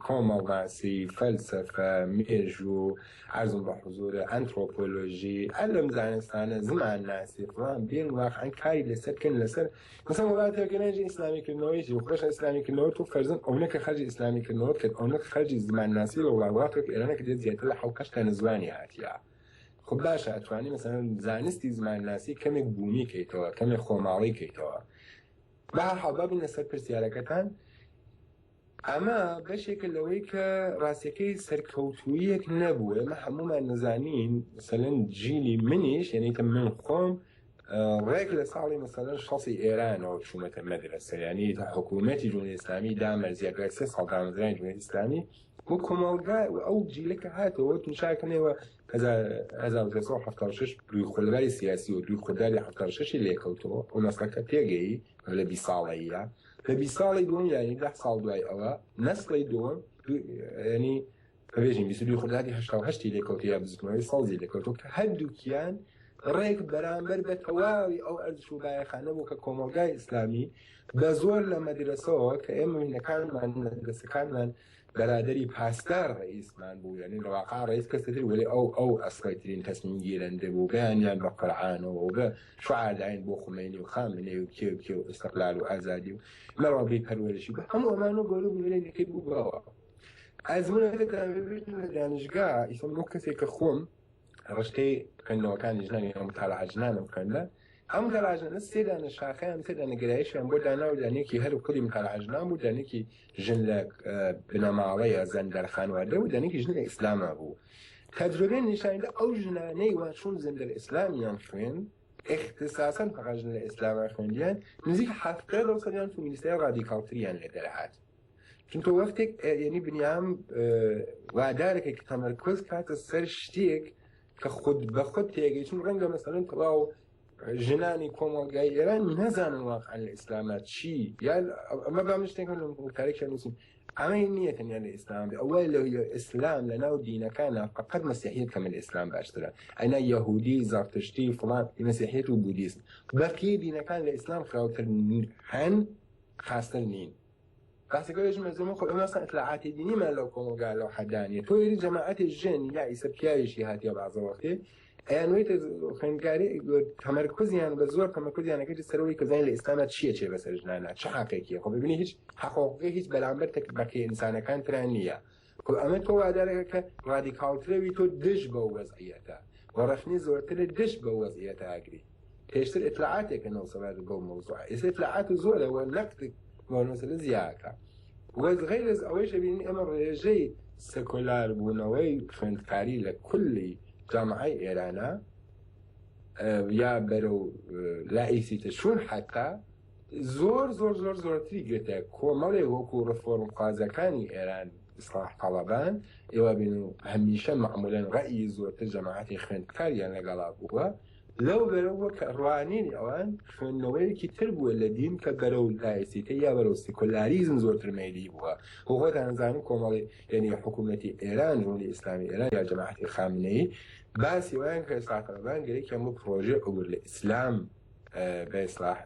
Speaker 4: کۆمەڵناسی فەلسەفە مێژوو عزم بە حزورە ئەنتۆپۆلۆژی ئەلم زانستانە زمان ناسی فڵان بێن واقعەن کاری لەسەر کەن لەسەر مثلا وڵاتی ئەگەر نەیژە ئیسلامی کردنەوەی جی خۆشە ئیسلامی کردنەوە تو فەرزن ئەونە کە خەرجی ئیسلامی کردنەوە کرد ئەونە خەرجی زمانناسی لە وڵات وڵاتێک ئێرانە کە دێت زیاتر لە حەوت هەشت دانە زمانی هاتیە خب باشە ئەتوانی مثلا زانستی زمانناسی کەمێک بوومی کەیتەوە کەمێک خۆماڵی کەیتەوە بە هەر حاڵ بابینە سەر پرسیارەکەتان ئەمە بەشێکە لەوەی کە ڕاستەکەی سەرکەوتوویەک نەبوو ئێمە هەمومان نەزانین سەلەن جیلی منیش یعنیکە من خۆم ڕێک لە ساڵی مەسەلەن شەسی ئێرانەوە چوومەتە مەدرسە یعنی تا حکوومەتی جمهوری ئیسلامی دامەرزیە دوای سێ ساڵ دامەزرانی جمهوری ئیسلامی و کۆمەڵگا و ئەو جیلەکە هاتەوە تووشاکنەوە 1970 دوی خولگای سیاسی و دوی خودداری 76 لێکەوتەوە و مەسلەکە پێگەی لە بی ساڵەیە لە بیست ساڵی دووەم یانی دە ساڵ دوای ئەوە نەسڵی دووەم ینی بەێژین بیست دوی خوداتی هشتا و هەشتی لێکەوت یا بزنەوەی سەڵزی لێکەوتۆ کە هەردووکیان ڕێک بەرامبەر بە تەواوی ئەو ئەرزش و بایەخانە بوو کە کۆمەلگای ئیسلامی بە زۆر لە مەدرسەوە کە ئێمە منەکانمان مەدرسەکانمان بەرادەری پاسدار ڕەئیسمان بوو یانی لەواقع ڕەئیس کەسی تر وەلی ئەو ئەو ئەسڵیترین تەسمیم گیرەندە بوو بەیانیان بە قورعانەوە و بە شوعار داین بۆ خومەینی و خامنەی و کێ و کێ و ئیستقلال و ئازادی و مەڕەبی پەروەرشی بە هەموو ئەمان و گەورە بوو لەی نەکەی بوو بەوە ئەزمونەکەتان ببیتن لە دانشگا ئیسم بۆ کەسێک کە خۆم ڕشتەی خوێندنەوەکانی ژنانی ئەم تاراژنانە بکەنە ئەم گەراژنە سێدانە شاخیان تێدا نگرایشیان بۆ دانا و دانێکی هەر و کولی متاراژنان بوو دانێکی ژن لە بنەماڵەیە زەن دەرخانوادە و دانێکی ژن لە ئیسلاما بوو تەجربێن نیشاندا ئەو ژنانەی وانچون زندر ئیسلامیان خوێن اختصاصا فقط ژن لە ئیسلاما خوێندیان نزیک هەفتە لەو سەدیان فمینیستای ڕادیکاڵتریان لێ دەرهات چونکە وەختێک یعنی بنیام وادارەکە کە تەمەرکۆز کاتە سەر شتێک کە خود بە خود تێگەی چون ڕەنگە مەسەن تەواو ژنانی کۆمەڵگای ئێران نەزانن واقعا لە ئیسلامە چی یا ئەمە با من شتێکم لەم ڕووکارێکیان نووسین ئەمەی نییە تەنیا لە ئیسلام ئەوەی لە ئیسلام لە ناو دینەکانە فقط مەسیحیت کەمە لە ئیسلام باشترە ئەنا یهودی زارتشتی فڵان مەسیحیت و بودیسم بەقی دینەکان لە ئیسلام خراوتر هەن خاستر نین باسەکەێژم لە زمە خۆی ئەمەسا ئەتلاعاتی دینیمان لەو کۆمەلگا لەو حەدانیە تۆری جەماعەتی ژێن یا ئیسە پیاویشی هاتیە بازەوەختێ ئەیان وێتە خوێندکاری تەمەرکوزیان بە زۆر تەمەکوزیانەکەی سەرەوەی کەزای لە ئێستانا چیە چێ بەسەر ژنانە چ حقێکیە خۆ ببینی هیچ حقۆقی هیچ بەرامبەر تەک بەکە ئینسانەکان تران نییە. وە ئەمە تۆ وادەرەکە کە ڕادیکاڵترەوی تۆ دژ بەو وەزعیەتە وە ڕەخنەی زۆرترت دژ بەو وەزعیەتە ئەگری پێشتر ئیتلاعاتێکە نۆسەلات بەو مەوزوعە ئێستا ئیتلاعات زۆرە وە نەقدت بۆ نۆسەلە زیاکە وە غەیر از ئەوەیش ئەبینین ئێمە ڕێژەی سکۆلار بوونەوەی خوێندکاری لە کولی جامعەی ئێرانە یا بەرەو لائیسیتە شوون حتا زۆر زۆر زۆر زۆرتری گرتە کۆمەڵێ وەکو ڕفۆرم خوازەکانی ئێران ئیسلاح قەڵەبان ئێوە بین و هەمیشە معمولەن ڕەئی زۆرتر جەماعەتی خوێندکاریان لەگەڵا بووە لەو بەرەوە کە ڕوانینی ئەوان خوێندنەوەیەکی تر بووە لە دین کە بەرەو لایسیتە یا بەرەو سیکۆلاریزم زۆرتر مەیلی بووە و خۆتان زانن کۆمەڵی یعنی حکوومەتی ئێران جمهوری ئیسلامی ئێران یا جەماعەتی خامنەی باسی وایان کە ئیسلاح قەڵەبان گەرەکی هەموو پرۆژێ عبور لە ئیسلام بە ئیسلاح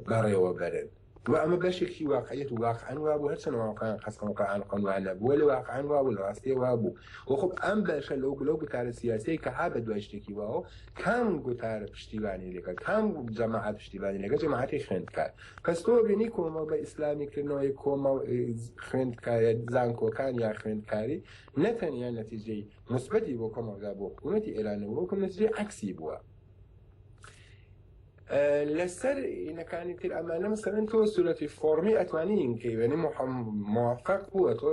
Speaker 4: بەڕێوە بەرن. و ئەمە بەشێکی واقعیەت و واقعەن وابوو هەرچەندە مامۆ قایان قاسم و قایان قەن وایان نەبوو وەلێ واقعەن وابوو لە ڕاستیە وابوو و خۆ ئەم بەشە لەو گلەو گوتارە سیاسیەی کە ها بە دوای شتێکی واوە کام گوتارە پشتیوانی لەگەڵ کام جەماعەت پشتیوانی لەگەڵ جەماعەتی خوێندکار پس تۆ بینی کۆمەڵ بە ئیسلامی کردنەوەی کۆمەڵ خوێندکارە زانکۆکان یا خوێندکاری نەتەنیا نەتیجەی مثبەتی بۆ کۆمەڵگا بۆ حکوومەتی ئێرانەوە وەکو نەتیجەی عەکسی بووە لەسەر ئینەکانی تر ئەمانە مەسەن تۆ سوورەتی فۆرمی ئەتوانی ئینکەی وێنی موفق بووە تۆ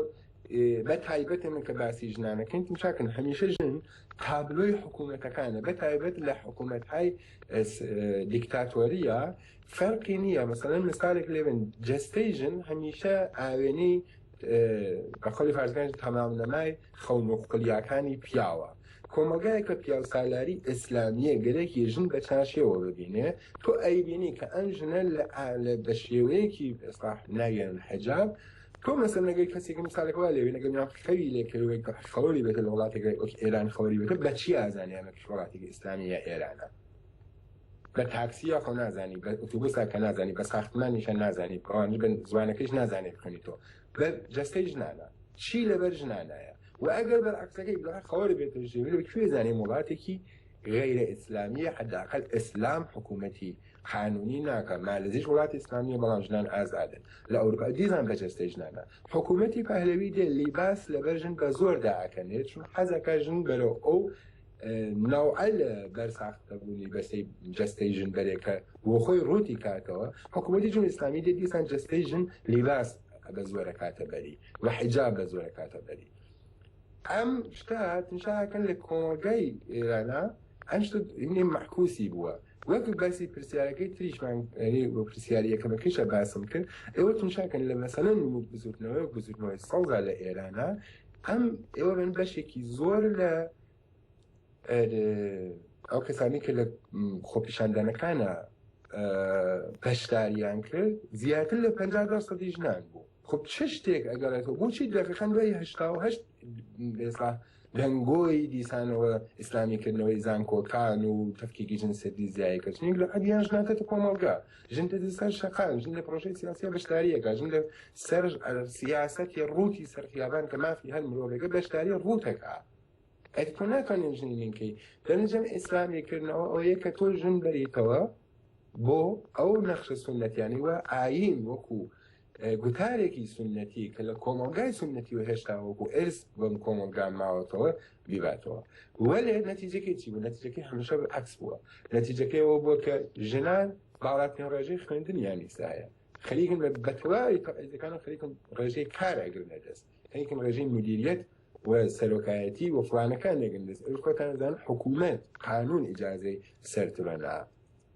Speaker 4: بە تایبەت من کە باسی ژنانەکەین چاکن هەمیشە ژن تابلۆی حکوومەتەکانە بە تایبەت لە حکوومەت های دیکتاتۆریە فەرقی نییە مەسەن مثالێک لێبن جستەی ژن هەمیشە ئاوێنەی بە قەولی خارجگەنج تەمامنەمای خەونوقلیاکانی پیاوە. کۆمەڵگایەک کە پیاوسالاری ئێسلامیە گەرەکی ژن بە چارشێوە ببینێ، تۆ ئەیبینی کە ئەم ژنە لە بە شێوەیەکی ئێستا ناویان حجاب، تۆ مەسەلەن ئەگەر کەسێکی میسالێک وا لێبێنە گەر ناو خەوی لێ کەوێ کە خەوەری بێتە لە وڵاتێک وەک ئێران خەوەری بێتە بە چی ئازانێ ئەمە کە وڵاتێکی ئێسلامی یا ئێرانە؟ بە تاکسیە خۆ نازانی بە ئوتوبوسە کە نازانی بە ساختمانیشە نازانی بڕانی بن زوانەکەیش نازانێت بخوێنی تۆ بە جەستەی ژنانە چی لەبەر ژنانایە و ئەگەر بەرعکسەکەی بڵێ خەوەر بێتە ژێویل و کوێ زانێ وڵاتێکی غیرە ئیسلامیە حداقل ئیسلام حکوومەتی قانونی ناکە مالزیش وڵاتی ئیسلامیە بەڵام ژنان ئازادن لە ئەوروپا دیزان بە جەستەی ژنانە حکوومەتی پەهلەوی دێ لیباس لەبەر ژن بە زۆر داکەنێت چون حەزەکە ژن بەرەو ئەو نەوعە لە بەر ساختەبوونی بەسەی جەستەی ژن بەرێکە بۆ خۆی ڕووتی کاتەوە حکوومەتی جمهوری ئیسلامی دێ دیسان جەستەی ژن لیباس بە زۆرە کاتە بەری و حیجاب بە زۆرە کاتە بەری ئەم شتە هاتنشاکەن لە کۆمەڵگای ئێرانە ئەم شتە هینێ معکوسی بووە وەک باسی پرسیارەکەی تریشمان یعنی بۆ پرسیاری یەکەمەکەشە باسم کرد ئێوە تونشاکەن لە مەسەلەن بزوتنەوەی بزوتنەوەی سەوزا لە ئێرانە ئەم ئێوە من بەشێکی زۆر لە ئەو کەسانی کە لە خۆپیشاندانەکانە پەشداریان کرد زیاتر لە 50 سەدی ژنان بوو خب چ شتێک ئەگەڕێتەوە بۆچی دەقەکان دوای هشتا و هەشت ئێستا دەنگۆی دیسانەوە ئیسلامیکردنەوەی زانکۆکان و تەفکیکی جنسێتی زیایکە چنین لە قەدیان ژناکەتە کۆمەڵگە ژن دێتە سەر شەقام ژن لە پرۆژەی سیاسیە بەشداریەکە ژن لە سەر سیاسەتی ڕووتی سەرخیابان کە مافی هەر مرۆڤێکە بەشداری ڕووتەکە ئەی تۆ ناتوانین ژنی لینکەی دەنجەم ئیسلامیکردنەوە ئەوەیە کە تۆ ژن بەریتەوە بۆ ئەو نەخشە سنەتیانی وە ئاین وەکو گوتارێکی سنەتی کە لە کۆمەلگای سنەتی و هێشتا وەکو ئرس بەم کۆمەلگا ماوەتەوە بیباتەوە وەێ نەتیجەکە چی بوو نەتیجەکە هەمشە عکس بووە نەتیجەکەەوە بووە کە ژنان باڵاتنی ڕێژەی خوێندنیان نیسایە خەریکم لە بەتەواوی تەعیزەکان و خەریکم ڕێژەی کار ئەگرنە دەست خەریکم ڕێژەی مدیریت و سەرۆکایەتی و فلانەکان لەگەن دەست ئەو خۆتانزان حکوومەت قانون ئجاازەی سەرتبەنا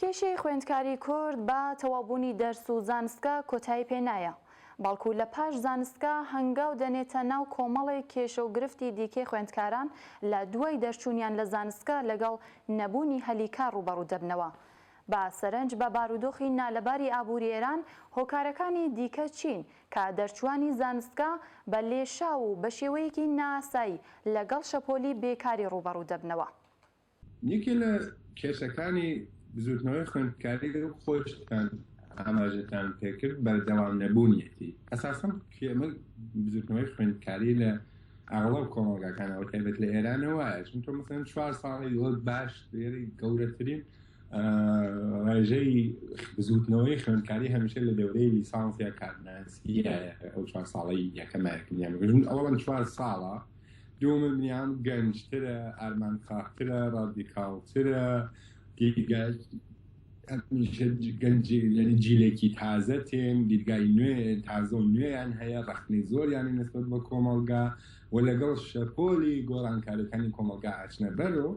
Speaker 4: کێشەی
Speaker 1: خوێندکاری کورد بە تەواوبوونی دەرس و زانستگا کۆتایی پێ نایە، بەڵکو لە پاش زانستگا هەنگاو دەنێتە ناو کۆمەڵێک کێشە و گرفتی دیکەی خوێندکاران لە دوای دەرچوونیان لە زانستگا لەگەڵ نەبوونی هەلی کار ڕووبەڕوو دەبنەوە بە سەرنج بە بارودۆخی نالەباری ئابووری ئێران هۆکارەکانی دیکە چین کە دەرچووانی زانستگا بە لێشاو و بە شێوەیەکی نائاسایی لەگەڵ شەپۆلی بێکاری ڕووبەڕوو دەبنەوە؟ یەکێ
Speaker 4: لە کێشەکانی بزوتنەوەی خوێندکاری و خۆشتان ئاماژەتان پێکرد بەردەوام نەبوونیەتی ئەساسم کێمە بزوتنەوەی خوێندکاری لە ئاڵاو کۆمەڵگاکانەوە تایبەت لە ئێرانەوە چون تۆ مەسەن چوار ساڵی لۆ باش دێری گەورەترین ڕێژەی بزوتنەوەی خوێندکاری هەمیشە لە دەورەی لیسانسیا کارناسیە ئەو چوار ساڵی یەکەمایکردیان بگرن ئەوڵەن چوار ساڵە دووەمە منیان گەنجترە ئارمانخاهترە ڕادیکاڵترە گەنجی یعنی جیلێکی تازە تێن دیدگای نوێ تازە و نوێیان هەیە ڕخنەی زۆریانی نسبت بە کۆمەڵگا و لەگەڵ شەپۆلی گۆڕانکاریەکانی کۆمەلگا ئاچنە بەرەوە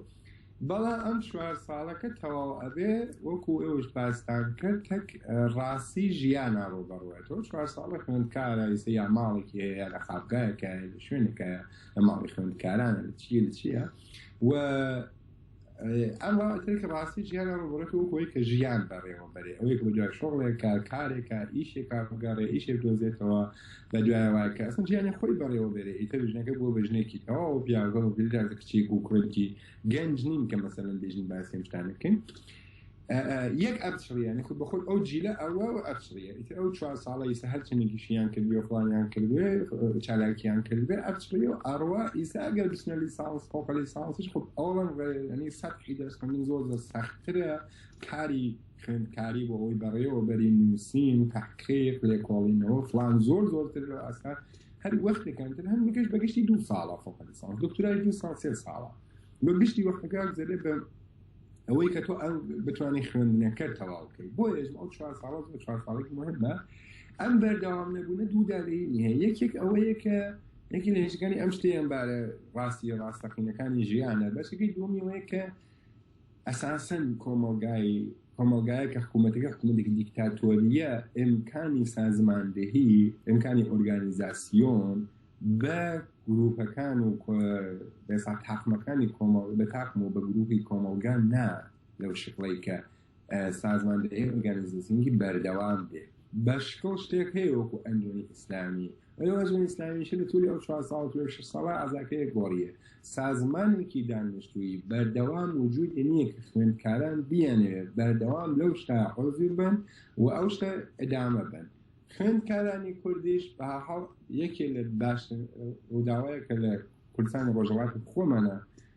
Speaker 4: بەڵام ئەم چوار ساڵەکە تەواو ئەبێ وەکو ئێوەش باستان کرد تەک ڕاستی ژیانا ڕۆ بەڕوایەوە چوار ساڵە خوێندکارایسە یا ماڵێکی هەیە لە خاپگایەکە لە شوێنەکە لە ماڵی خوێندکارانە لە چیە لە چییە و ئەم ڕاتێک ڕاستی ژیانە ڕوبڕێت و کۆی کە ژیان بەڕێوە بەرێ ئەوەی بۆ دوای شۆڵێکە کارێکە ئیشێکا بگەڕێ ئیشێک دۆزێتەوە لە دوایە وای کە ئەسڵەن ژیانی خۆی بەڕێوە بێرێ ئیتر ژنەکە بووە بە ژنێکی تەواو پیاوەکە بە پێدا زە کچێک و کوڕێکی گەنج نین کە مەسەلەن بێژین باسی ئەم شتانە بکەین یەک ئەبچڕیانە خود بەخۆت ئەو جیلە ئەوە و ئەبچڕیە ئیتر ئەو چوار ساڵە ئیسە هەر چنێکیشیان کردی و فڵانیان کردوێ چالاکیان کردێ ئەبچڕی و ئەڕوا ئیسا ئەگەر بچنە لیسانس فۆقە لیسانسیش خود ئەوڵەن ڕێنی سەد حیدەرس خوێندن زۆر زۆر سەختترە کاری خوێندکاری بۆ ئەوەی بەڕێوەبەری نووسین تحقیق لێکۆڵینەوە فلان زۆر زۆرتر لە ئاستا هەر وەختەکانتر هەم بگەشت بەگشتی دوو ساڵە فۆق لیسانس دکتۆرای دوو ساڵ سێ ساڵە بە گشتی وەختەکە زەرێ بە ئەوەی کە تۆ ئەم بتوانانی خوێندنەکە تەواو بکەیت بۆ ێژ ئەو چوار ساڵ زۆر چوار ساڵێک مهمە ئەم بەردەوام نەبوونە دوودادەی نیە یەکێک ئەوەیە کە یەکی لە هێشەکانی ئەم شتیان بارە ڕاستی ڕاستەقینەکانی ژیانە بەشەکەی دومیەوەیە کە ئەساسەن کۆمەڵگای کۆمەڵگایە کە حکوومەتەکە حکوومەتێکی دیکتاتۆرییە، ئیمکانی سازماندهی، ئیمکانی ئۆرگانیزاسیۆن بە گرووپەکان و بەسا تاقمەکانی کۆمەڵ بە تاقم و بە گرووپی کۆمەڵگا نا لەو شکڵی کە سازماندهی ئۆرگانیزاسیۆنی بەردەوام بێ بە شکڵ شتێک هەیە وەکو ئەندۆنی ئیسلامی ئەوێ ڕژێمی ئیسلامیشە لە تووری ئەو چوار ساڵ توێ شەش ساڵە ئازاکەیە گۆڕیە سازمانێکی دانیشتووی بەردەوام وجود نییە کە خوێندکاران بیانەوێت بەردەوام لەو شتا حۆزیر بن و ئەو شتە ئەدامە بن خوێندکارانی کوردیش بە حاڵ یەکێ لە باش ڕووداوەیە کە لە کوردستانی ڕۆژەڵاتی خۆمانە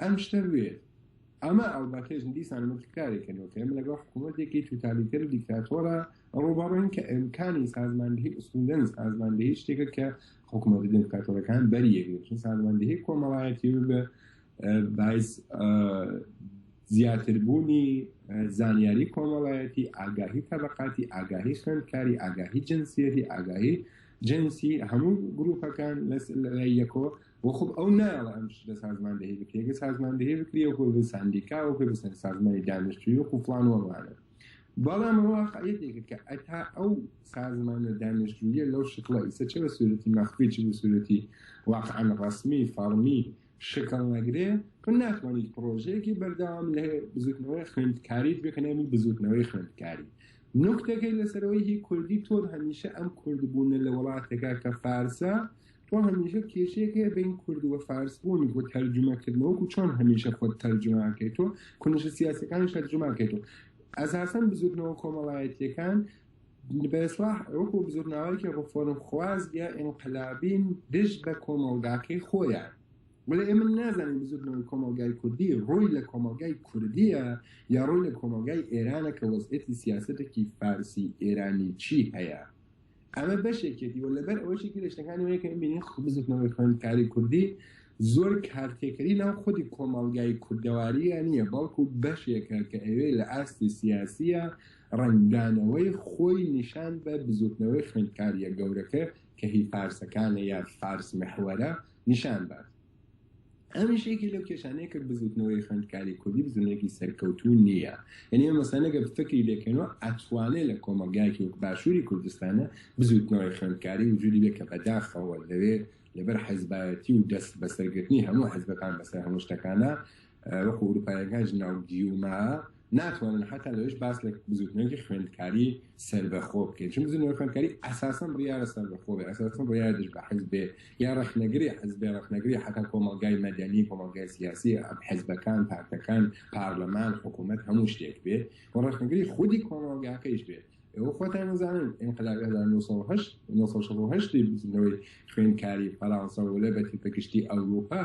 Speaker 4: ئەم شتە بێت ئەمە ئەڵبەتەش دیسان متکاری کردەوە کە ئێمە لەگەڵ حکوومەتێکی توتالیتەر و دیکتاتۆرە ڕووبەڕین کە ئەمکانی سازماندهی ئوسولەن سازماندهی شتێکە کە حکوومەت دیکتاتۆرەکان بەریەگرێت چون سازماندهی کۆمەڵایەتی بە باعث زیاتربوونی زانیاری کۆمەڵایەتی ئاگاهی تەبقاتی ئاگاهی خوێندکاری ئاگاهی جنسیەتی ئاگاهی جنسی هەموو گروپەکان لە یەکۆ بۆ خۆ ئەو نایەڵە ئەم شتە سازماندەهی بکرێت گە سازماندەهی بکرێ و کۆی ساندیکا و پێ بسەن سازمانی دانیشتوی و قوفلان وەمانە بەڵام واقعەتێکە کە ئەتا ئەو سازمانە دانیشتویە لەو شکڵە ئیسە چ بە سوورەتی مەخفی چ بە سوورەتی واقعان ڕسمی فەرمی شکڵ نەگرێ تو ناتوانیت پرۆژەیەکی بەردەوام لە بزوتنەوەی خوێندکاریت بکنێمی بزوتنەوەی خوێندکاری نوکتەکەی لەسەرەوەی هی کوردی تۆر هەمیشە ئەم کوردبوونە لە وڵاتێکا کە فارسە تۆ هەمیشە کێشەیەک هەیە بین کورد و فارس بوون بۆ تەرجمەکردنەوە و چۆن هەمیشە خۆت تەرجمەکەی تۆ کونشە سیاسەکانی شەرجمەکەی تۆ ئەزاسەن بزوتنەوە کۆمەڵایەتیەکان بەسلاح وەکو بزرناوەیەکی ڕفۆرم خواز یا ئینقلابین دژ بە کۆمەڵگاکەی خۆیان ولی ئێمە نازانین بزوتنەوەی کۆمەلگای کوردی ڕووی لە کۆمەلگای کوردیە یا ڕووی لە کۆمەلگای ئێرانە کە وەزعێتی سیاستێکی فارسی ئێرانی چی هەیە ئەمە بەشێکێتی و لەبەر ئەوەشی کە لە شتەکانی وەیە کە ببینین خ- بزوتنەوەی خوێندکاری کوردی زۆر کارتێکەری ناو خودی کۆمەڵگای کوردەواریە نییە بەڵکو بەشێکە کە ئەوێ لە ئاستی سیاسیە ڕەنگدانەوەی خۆی نیشان بە بزوتنەوەی خوێندکاریە گەورەکە کە هی فارسەکانە یا فارس محوەرە نیشان بات ئەمیش یەکی لەو کێشانەیە کە بزوتنەوەی خوێندکاری کوردی بزنێکی سەرکەوتوو نییە یعنی ئەمە مەسانەگە فکری لێکەنەوە ئەتوانێت لە کۆمەلگایکی وەک باشووری کوردستانە بزوتنەوەی خوێندکاری وجودی بێ کە بەداخەوە لەوێ لەبەر حەزبایەتی و دەست بەسەرگرتنی هەموو حەزبەکان بەسەر هەموو شتەکانە وەکو ئوروپایەکان ژناو گیوما ناتوانن حتا لەش باس لە بزوتنەوەی خوێندکاری سربەخۆ بکەین چون بزنەوە خوێندکاری ئەساسم ڕیاە سەربەخۆ بێ ئەساسم ڕیاە دژ بە حز بێ یا ڕخنەگری حز بێ ڕخنەگری حتا کۆمەلگای مەدەنی کۆمەلگای سیاسی ئەم حزبەکان پارتەکان پارلەمان حکوومەت هەموو شتێک بێ و ڕخنەگری خودی کۆمەلگاکەیش بێت ئەو خۆتان نزانن انقلاب 1970 بزنەوەی خوێندکاری فەرانسە و لە بەتی پگشتی ئەوروپا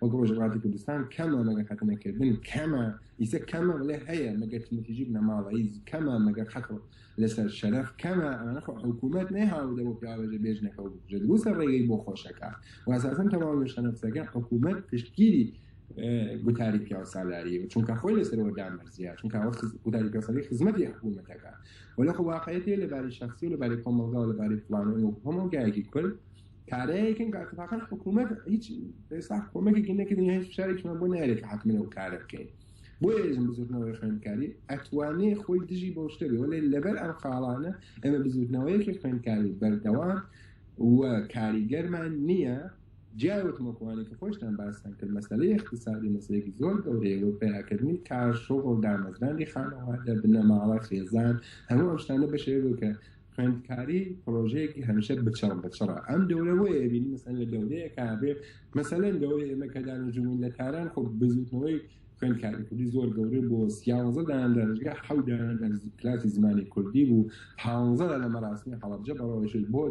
Speaker 4: وەک ڕۆژی وڵاتی کوردستان کەمە مەگەر خەتنەکردن کەمە ئیسە کەمە بڵێ هەیە مەگەر تنتیجی بنەماڵەی کەمە مەگەر حەق لەسەر شەرەف کەمە ئەمانە خۆ حکوومەت نەیهاوردە بۆ پیاوەژە بێژنەکە و بکوژە دروستە ڕێگەی بۆ خۆشەکە واساسن تەواو لە شەنەفسەکە حکوومەت پشتگیری گوتاری پیاو سالاری چونکە خۆی لەسەرەوە دامەرزیە چونکە ئەوە گوتاری پیاسەری خزمەتی حکوومەتەکە وەلە خۆ واقعەتێ لەباری شخصی و لەباری کۆمەڵگا و لەباری فلانەوە هەمۆ گایەکی کورد کارەیەکن کە اتفاقا حکوومەت هیچ ئێستا کۆمەکێکی نەکردن هیچ فشارێکمان بۆ نارێت حکمە و کارە بکەین بۆ ێزم بزوتنەوەی خوێندکاری ئەتوانێ خۆی دژی بۆ شتە بێ وەێ لەبەر ئەم خاڵانە ئەمە بزوتنەوەیەکی خوێندکاری بەردەوام و کاریگەرمان نییە جیاوتمەکوانێک کە خۆشتان باستان کرد مەسلەی اقتصادی مەسلێکی زۆر گەورەیە و پیاکردنی کار شغل دامەزرانی خانەوادە بنەماڵە خێزان هەموو ئەم شتانە بەشێوە کە خوێندکاری پرۆژەیەکی هەمیشە بچڕ بچڕە ئەم دەورە وە ئێبین مەسەن لە دەورەیە کابێ مەسەلەن دەورە ئێمە کە دانەجوون لە تاران خۆ بزوتنەوەی خوێندکاری کوردی زۆر گەورە بۆ سیاوەزە دایان دەرجگە حەودایان کلاسی زمانی کوردی بوو پانزە لە مەراسمی حەڵبجە بەڕەوەشت بۆ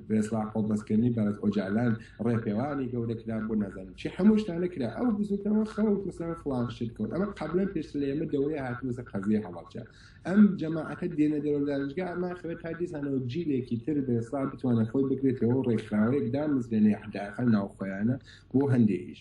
Speaker 4: بێسلا خۆڵبەستکردنی بەرز ئۆجالان ڕێپێوانی گەورە کرا بۆ نازانم چی هەموو شتانە کرا ئەو بزوتنەوە خەڵک مثلا فڵان شت کەوت ئەمە قبلەن پێش لە ئێمە دەورەیە هاتووەسە قەزیە هەڵبجە ئەم جەماعەتە دێنە دەرەوە دانشگا ئەمە خەوێت تا دیسانەوە جیلێکی تر دەسڵا بتوانە خۆی بگرێتەوە ڕێکخراوەیەک دامزرێنێ حداقل ناوخۆیانە بۆ هەندێکیش.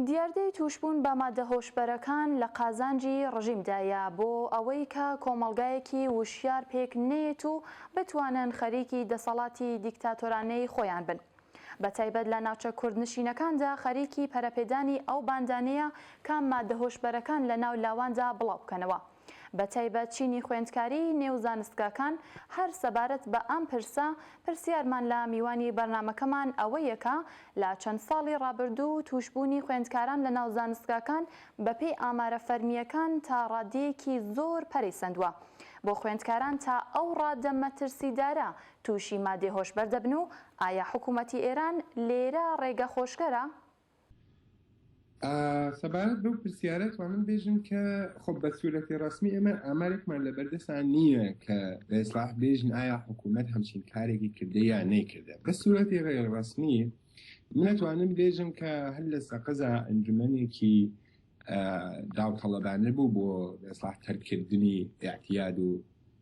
Speaker 1: دیاردەی تووشبوون بە ماددە هۆشبەرەکان لە قازانجی ڕژیمدایە بۆ ئەوەی کە کۆمەڵگایەکی وشیار پێک نەیەت و بتوانن خەریکی دەسەڵاتی دیکتاتۆرانەی خۆیان بن. بە تایبەت لە ناوچە کوردنشینەکاندا خەریکی پەرەپێدانی ئەو باندانەیە کە ماددە هۆشبەرەکان لە ناو لاواندا بڵاو بکەنەوە بە تایبەت چینی خوێندکاریی نێو زانستگاکان هەر سەبارەت بە ئەم پرسە پرسیارمان لە میوانی بەرنامەکەمان ئەوەیە کە لە چەند ساڵی ڕابردوو تووشبوونی خوێندکاران لە ناو زانستگاکان بە پێی ئامارە فەرمییەکان تا ڕاددەیەکی زۆر پەرەی سەندووە بۆ خوێندکاران تا ئەو ڕاددە مەترسیدارە تووشی مادەی هۆشبەر دەبن و ئایا حکوومەتی ئێران لێرە ڕێگە خۆشگەرە؟
Speaker 4: سەبارەت بەو پرسیارە توانم بێژم کە خۆ بە سوورەتی ڕسمی ئێمە ئامارێکمان لە بەردەسان نییە کە ئێسلاح بێژن ئایا حکوومەت هەمچین کارێکی کردە یا نەیکردە بە سوورەتی ڕێ ڕسمی منەتوانم بێژم کە هەر لە سەقەزا ئەنجومەنێکی داوتەڵەبانە بوو بۆ ئێسلاح تەرکردنی یاعتیاد و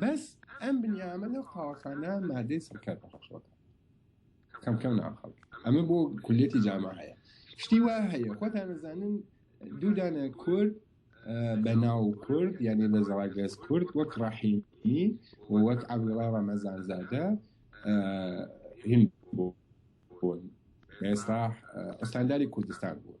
Speaker 4: بەس ئەم بنیامە لەو قاوەخانە مادەی سەکەر بەخۆشەکە کەم کەم ناخەڵک ئەمە بۆ کولیەتی جامە هەیە شتی وا هەیە خۆتان نەزانن دوودانە کورد بە ناو کورد یعنی لە زەڵاگەز کورد وەک ڕاحیمی وەک عبدڵا ڕەمەزانزادە هند بوون ئێستا ئەستانداری کوردستان بوون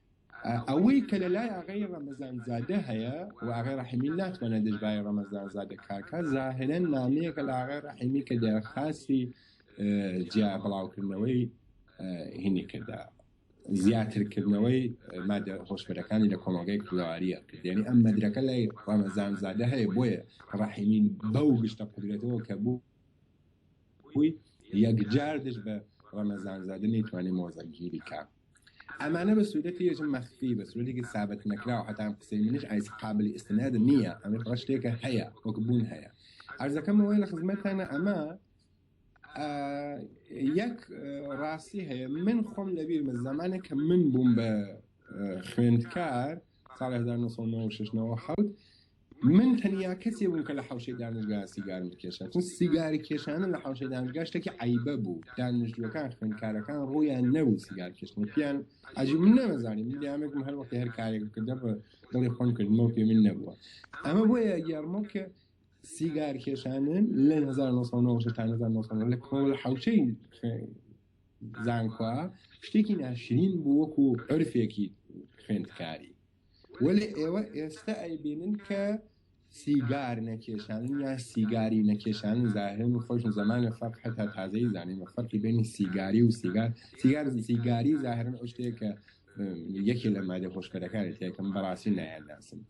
Speaker 4: ئەوەی کە لە لای ئاغای ڕەمەزان زادە هەیە و ئاغای ڕەحیمی ناتوانێت دژبای ڕەمەزان زادە کاکە زاهرەن نامەیەکە لە ئاغای ڕەحیمی کە دەرخاستی جیا بڵاوکردنەوەی هینی کردا زیاترکردنەوەی مادە هۆشبەرەکانی لە کۆمەڵگای کوردەواریە کردێنی ئەم مەدرەکە لای ڕەمەزان زادە هەیە بۆیە ڕەحیمین بەو گشتە قدرێتەوە کە بوو بووی یەکجار دژ بە ڕەمەزان زادە نەیتوانانی مۆزەگیری کا ئەمانە بە سوودەتی یەژم مەخفی بە سوودێکی سابت نەکراو هەتان قسەی منش ئایس قابلی ئستناد نییە ئەمە بڕە شتێکە هەیە وەک بوون هەیە ئەرزەکەم ئەوەی لە خزمەتانە ئەمە یەک ڕاستی هەیە من خۆم لەبیرمە زمانێک کە من بووم بە خوێندکار ساڵ هەزار نۆ سەد و نەوە و شەش نەوە و حەوت من تەنیا کەسێ بووم کە لە حەوشەی دانشگا سیگارم بکێشا چون سیگاری کێشانە لە حەوشەی دانشگا شتێکی عیبە بوو دانشجووەکان خوێندکارەکان ڕوویان نەبوو سیگار کێشتن پیان عجیب من نەمەزانی من دامێکم هەر وەختی هەر کارێک کردە بە دڵی خۆم کردمەوە پێ من نەبووە ئەمە بۆیە یارمە کە سیگار کێشانن لە 1990 تا 1990 لە کۆڵ حەوشەی زانکۆ شتێکی ناشرین بوو وەکو عرفێکی خوێندکاری وەێ ئێوە ئێستا ئەیبینن کە سیگار نەکێشان یا سیگاری نەکێشان زاهرن و خۆشن زمانە فەرق هەتا تازەی زانین و فەرقی بینی سیگاری و سیگار سیگار سیگاری زاهرن ئەو شتێکە یەکێ لە مادە خۆشکەرەکانی تێکم بەڕاستی نایانداسم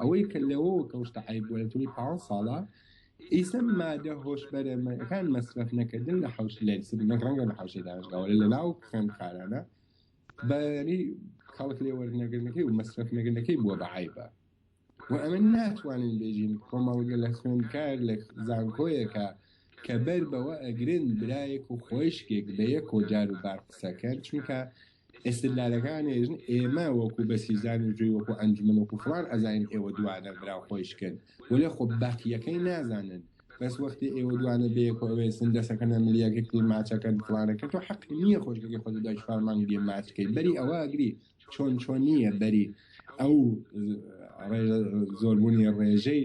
Speaker 4: ئەوەی کە لەوەوە کەوشتە عەیب وەرگری پانز ساڵە ئیسە مادە هۆشبەرەکان مەسرەف نەکردن لە حوش لە سرینەک ڕەنگە لە حوشی دانشگاوە لە ناو خوێن خارانە بەری خەڵک لێ وەرنەگرنەکەی و مەسرەف نەگرنەکەی بووە بە عیبە و ئەمە ناتوانین بێژین کۆمەڵگە لە خوێنکار لە زانکۆیەکە کە بەر بەوە ئەگرن برایەک و خۆشکێک بە یەک و جار و بار قسەکەن چونکە ئیستدلالەکان ئێژن ئێمە وەکو بەسیجان و جوێی وەکو ئەنجومەن وەکو فڵان ئەزانین ئێوە دوانە برا خۆی شکن وەلێ خۆ بەقیەکەی نازانن بەس وەختی ئێوە دوانە بەیەکۆ ئەوێسن دەسەکەنە ملیاگە کلی ماچەکەن فڵانەکە تۆ حەق نییە خۆشگەکەی خۆ دوای چوار مانگ دێ ماچکەی بەری ئەوە ئەگری چۆن چۆن نییە بەری ئەو زۆربوونی ڕێژەی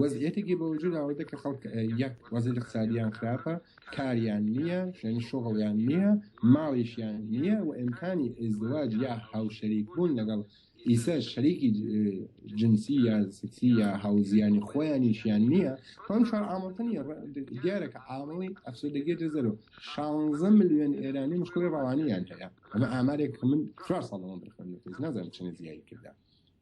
Speaker 4: وەزعیەتێکی بەوجود ئاوردە کە خەڵک یەک وەزعی اقتصادیان خراپە کاریان نییە یعنی شغڵیان نییە ماڵیشیان نییە و ئیمکانی ازدواج یا هاوشەریک بوون لەگەڵ ئیسە شەریکی جنسی یا سکسی یا هاوزیانی خۆیانیشیان نییە خۆم چوار ئامڵتە نیە دیارە کە ئامڵی ئەفسردەگی دەزەرۆ 16 ملیۆن ئێرانی مشکلی ڕەوانیان هەیە ئەمە ئامارێک من چوار ساڵەوە بخوێنێت نازانم چنە زیایی کردا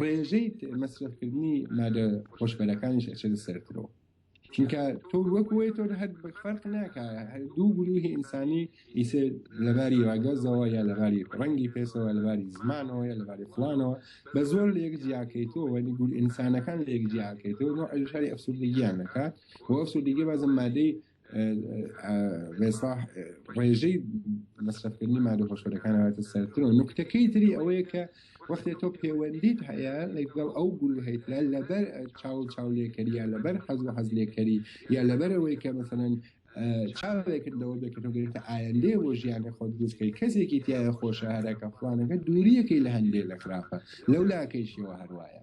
Speaker 4: ڕێژەی مەسرەفکردنی مادە هۆشبەرەکانیش ئەچێتە سەرترەوە چونکە تۆ وەک وی تۆ هەر فەرق ناکە دوو گروهی ئینسانی ئیسێ لەباری واگەزەوە یا لەباری ڕەنگی پێسەوە لەباری زمانەوە یا لەباری فلانەوە بە زۆر لە یەک جیاکەیتەوە وەنی گول ئینسانەکان لە یەک جیاکەیتەوە نوع ئەژاری ئەفسوردگییان نەکات و ئەفسوردگی بازم مادەی ڕێسا ڕێژەی مەسرفکردنی مادە هۆشەکان هاتە سەرتر و نکتەکەی تری ئەوەیە کە وەختێ تۆ پەیوەندیت هەیە لەگەڵ ئەو گول هەیتە لەبەر چاو چاو لێکەری یا لەبەر حەز و حەز لێکەری یا لەبەر ئەوەی کە مەسەن چاوێکرد لەوە بێت کە تۆ گرێتە ئایندێ بۆ ژیانە خۆت دروستکەی کەسێکی تایە خۆشە هەرەکە فلانەکە دووریەکەی لە هەندێ لە خراپە لەو لاکەیشەوە هەروایە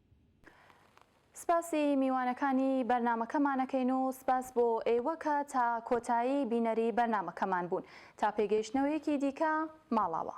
Speaker 1: سپاسی میوانەکانی بەرنامەکەمانەکەین و سپاس بۆ ئێوە کە تا کۆتایی بینەری بەرنامەکەمان بوون. تا پێگەیشتنەوەیەکی دیکە ماڵاوا.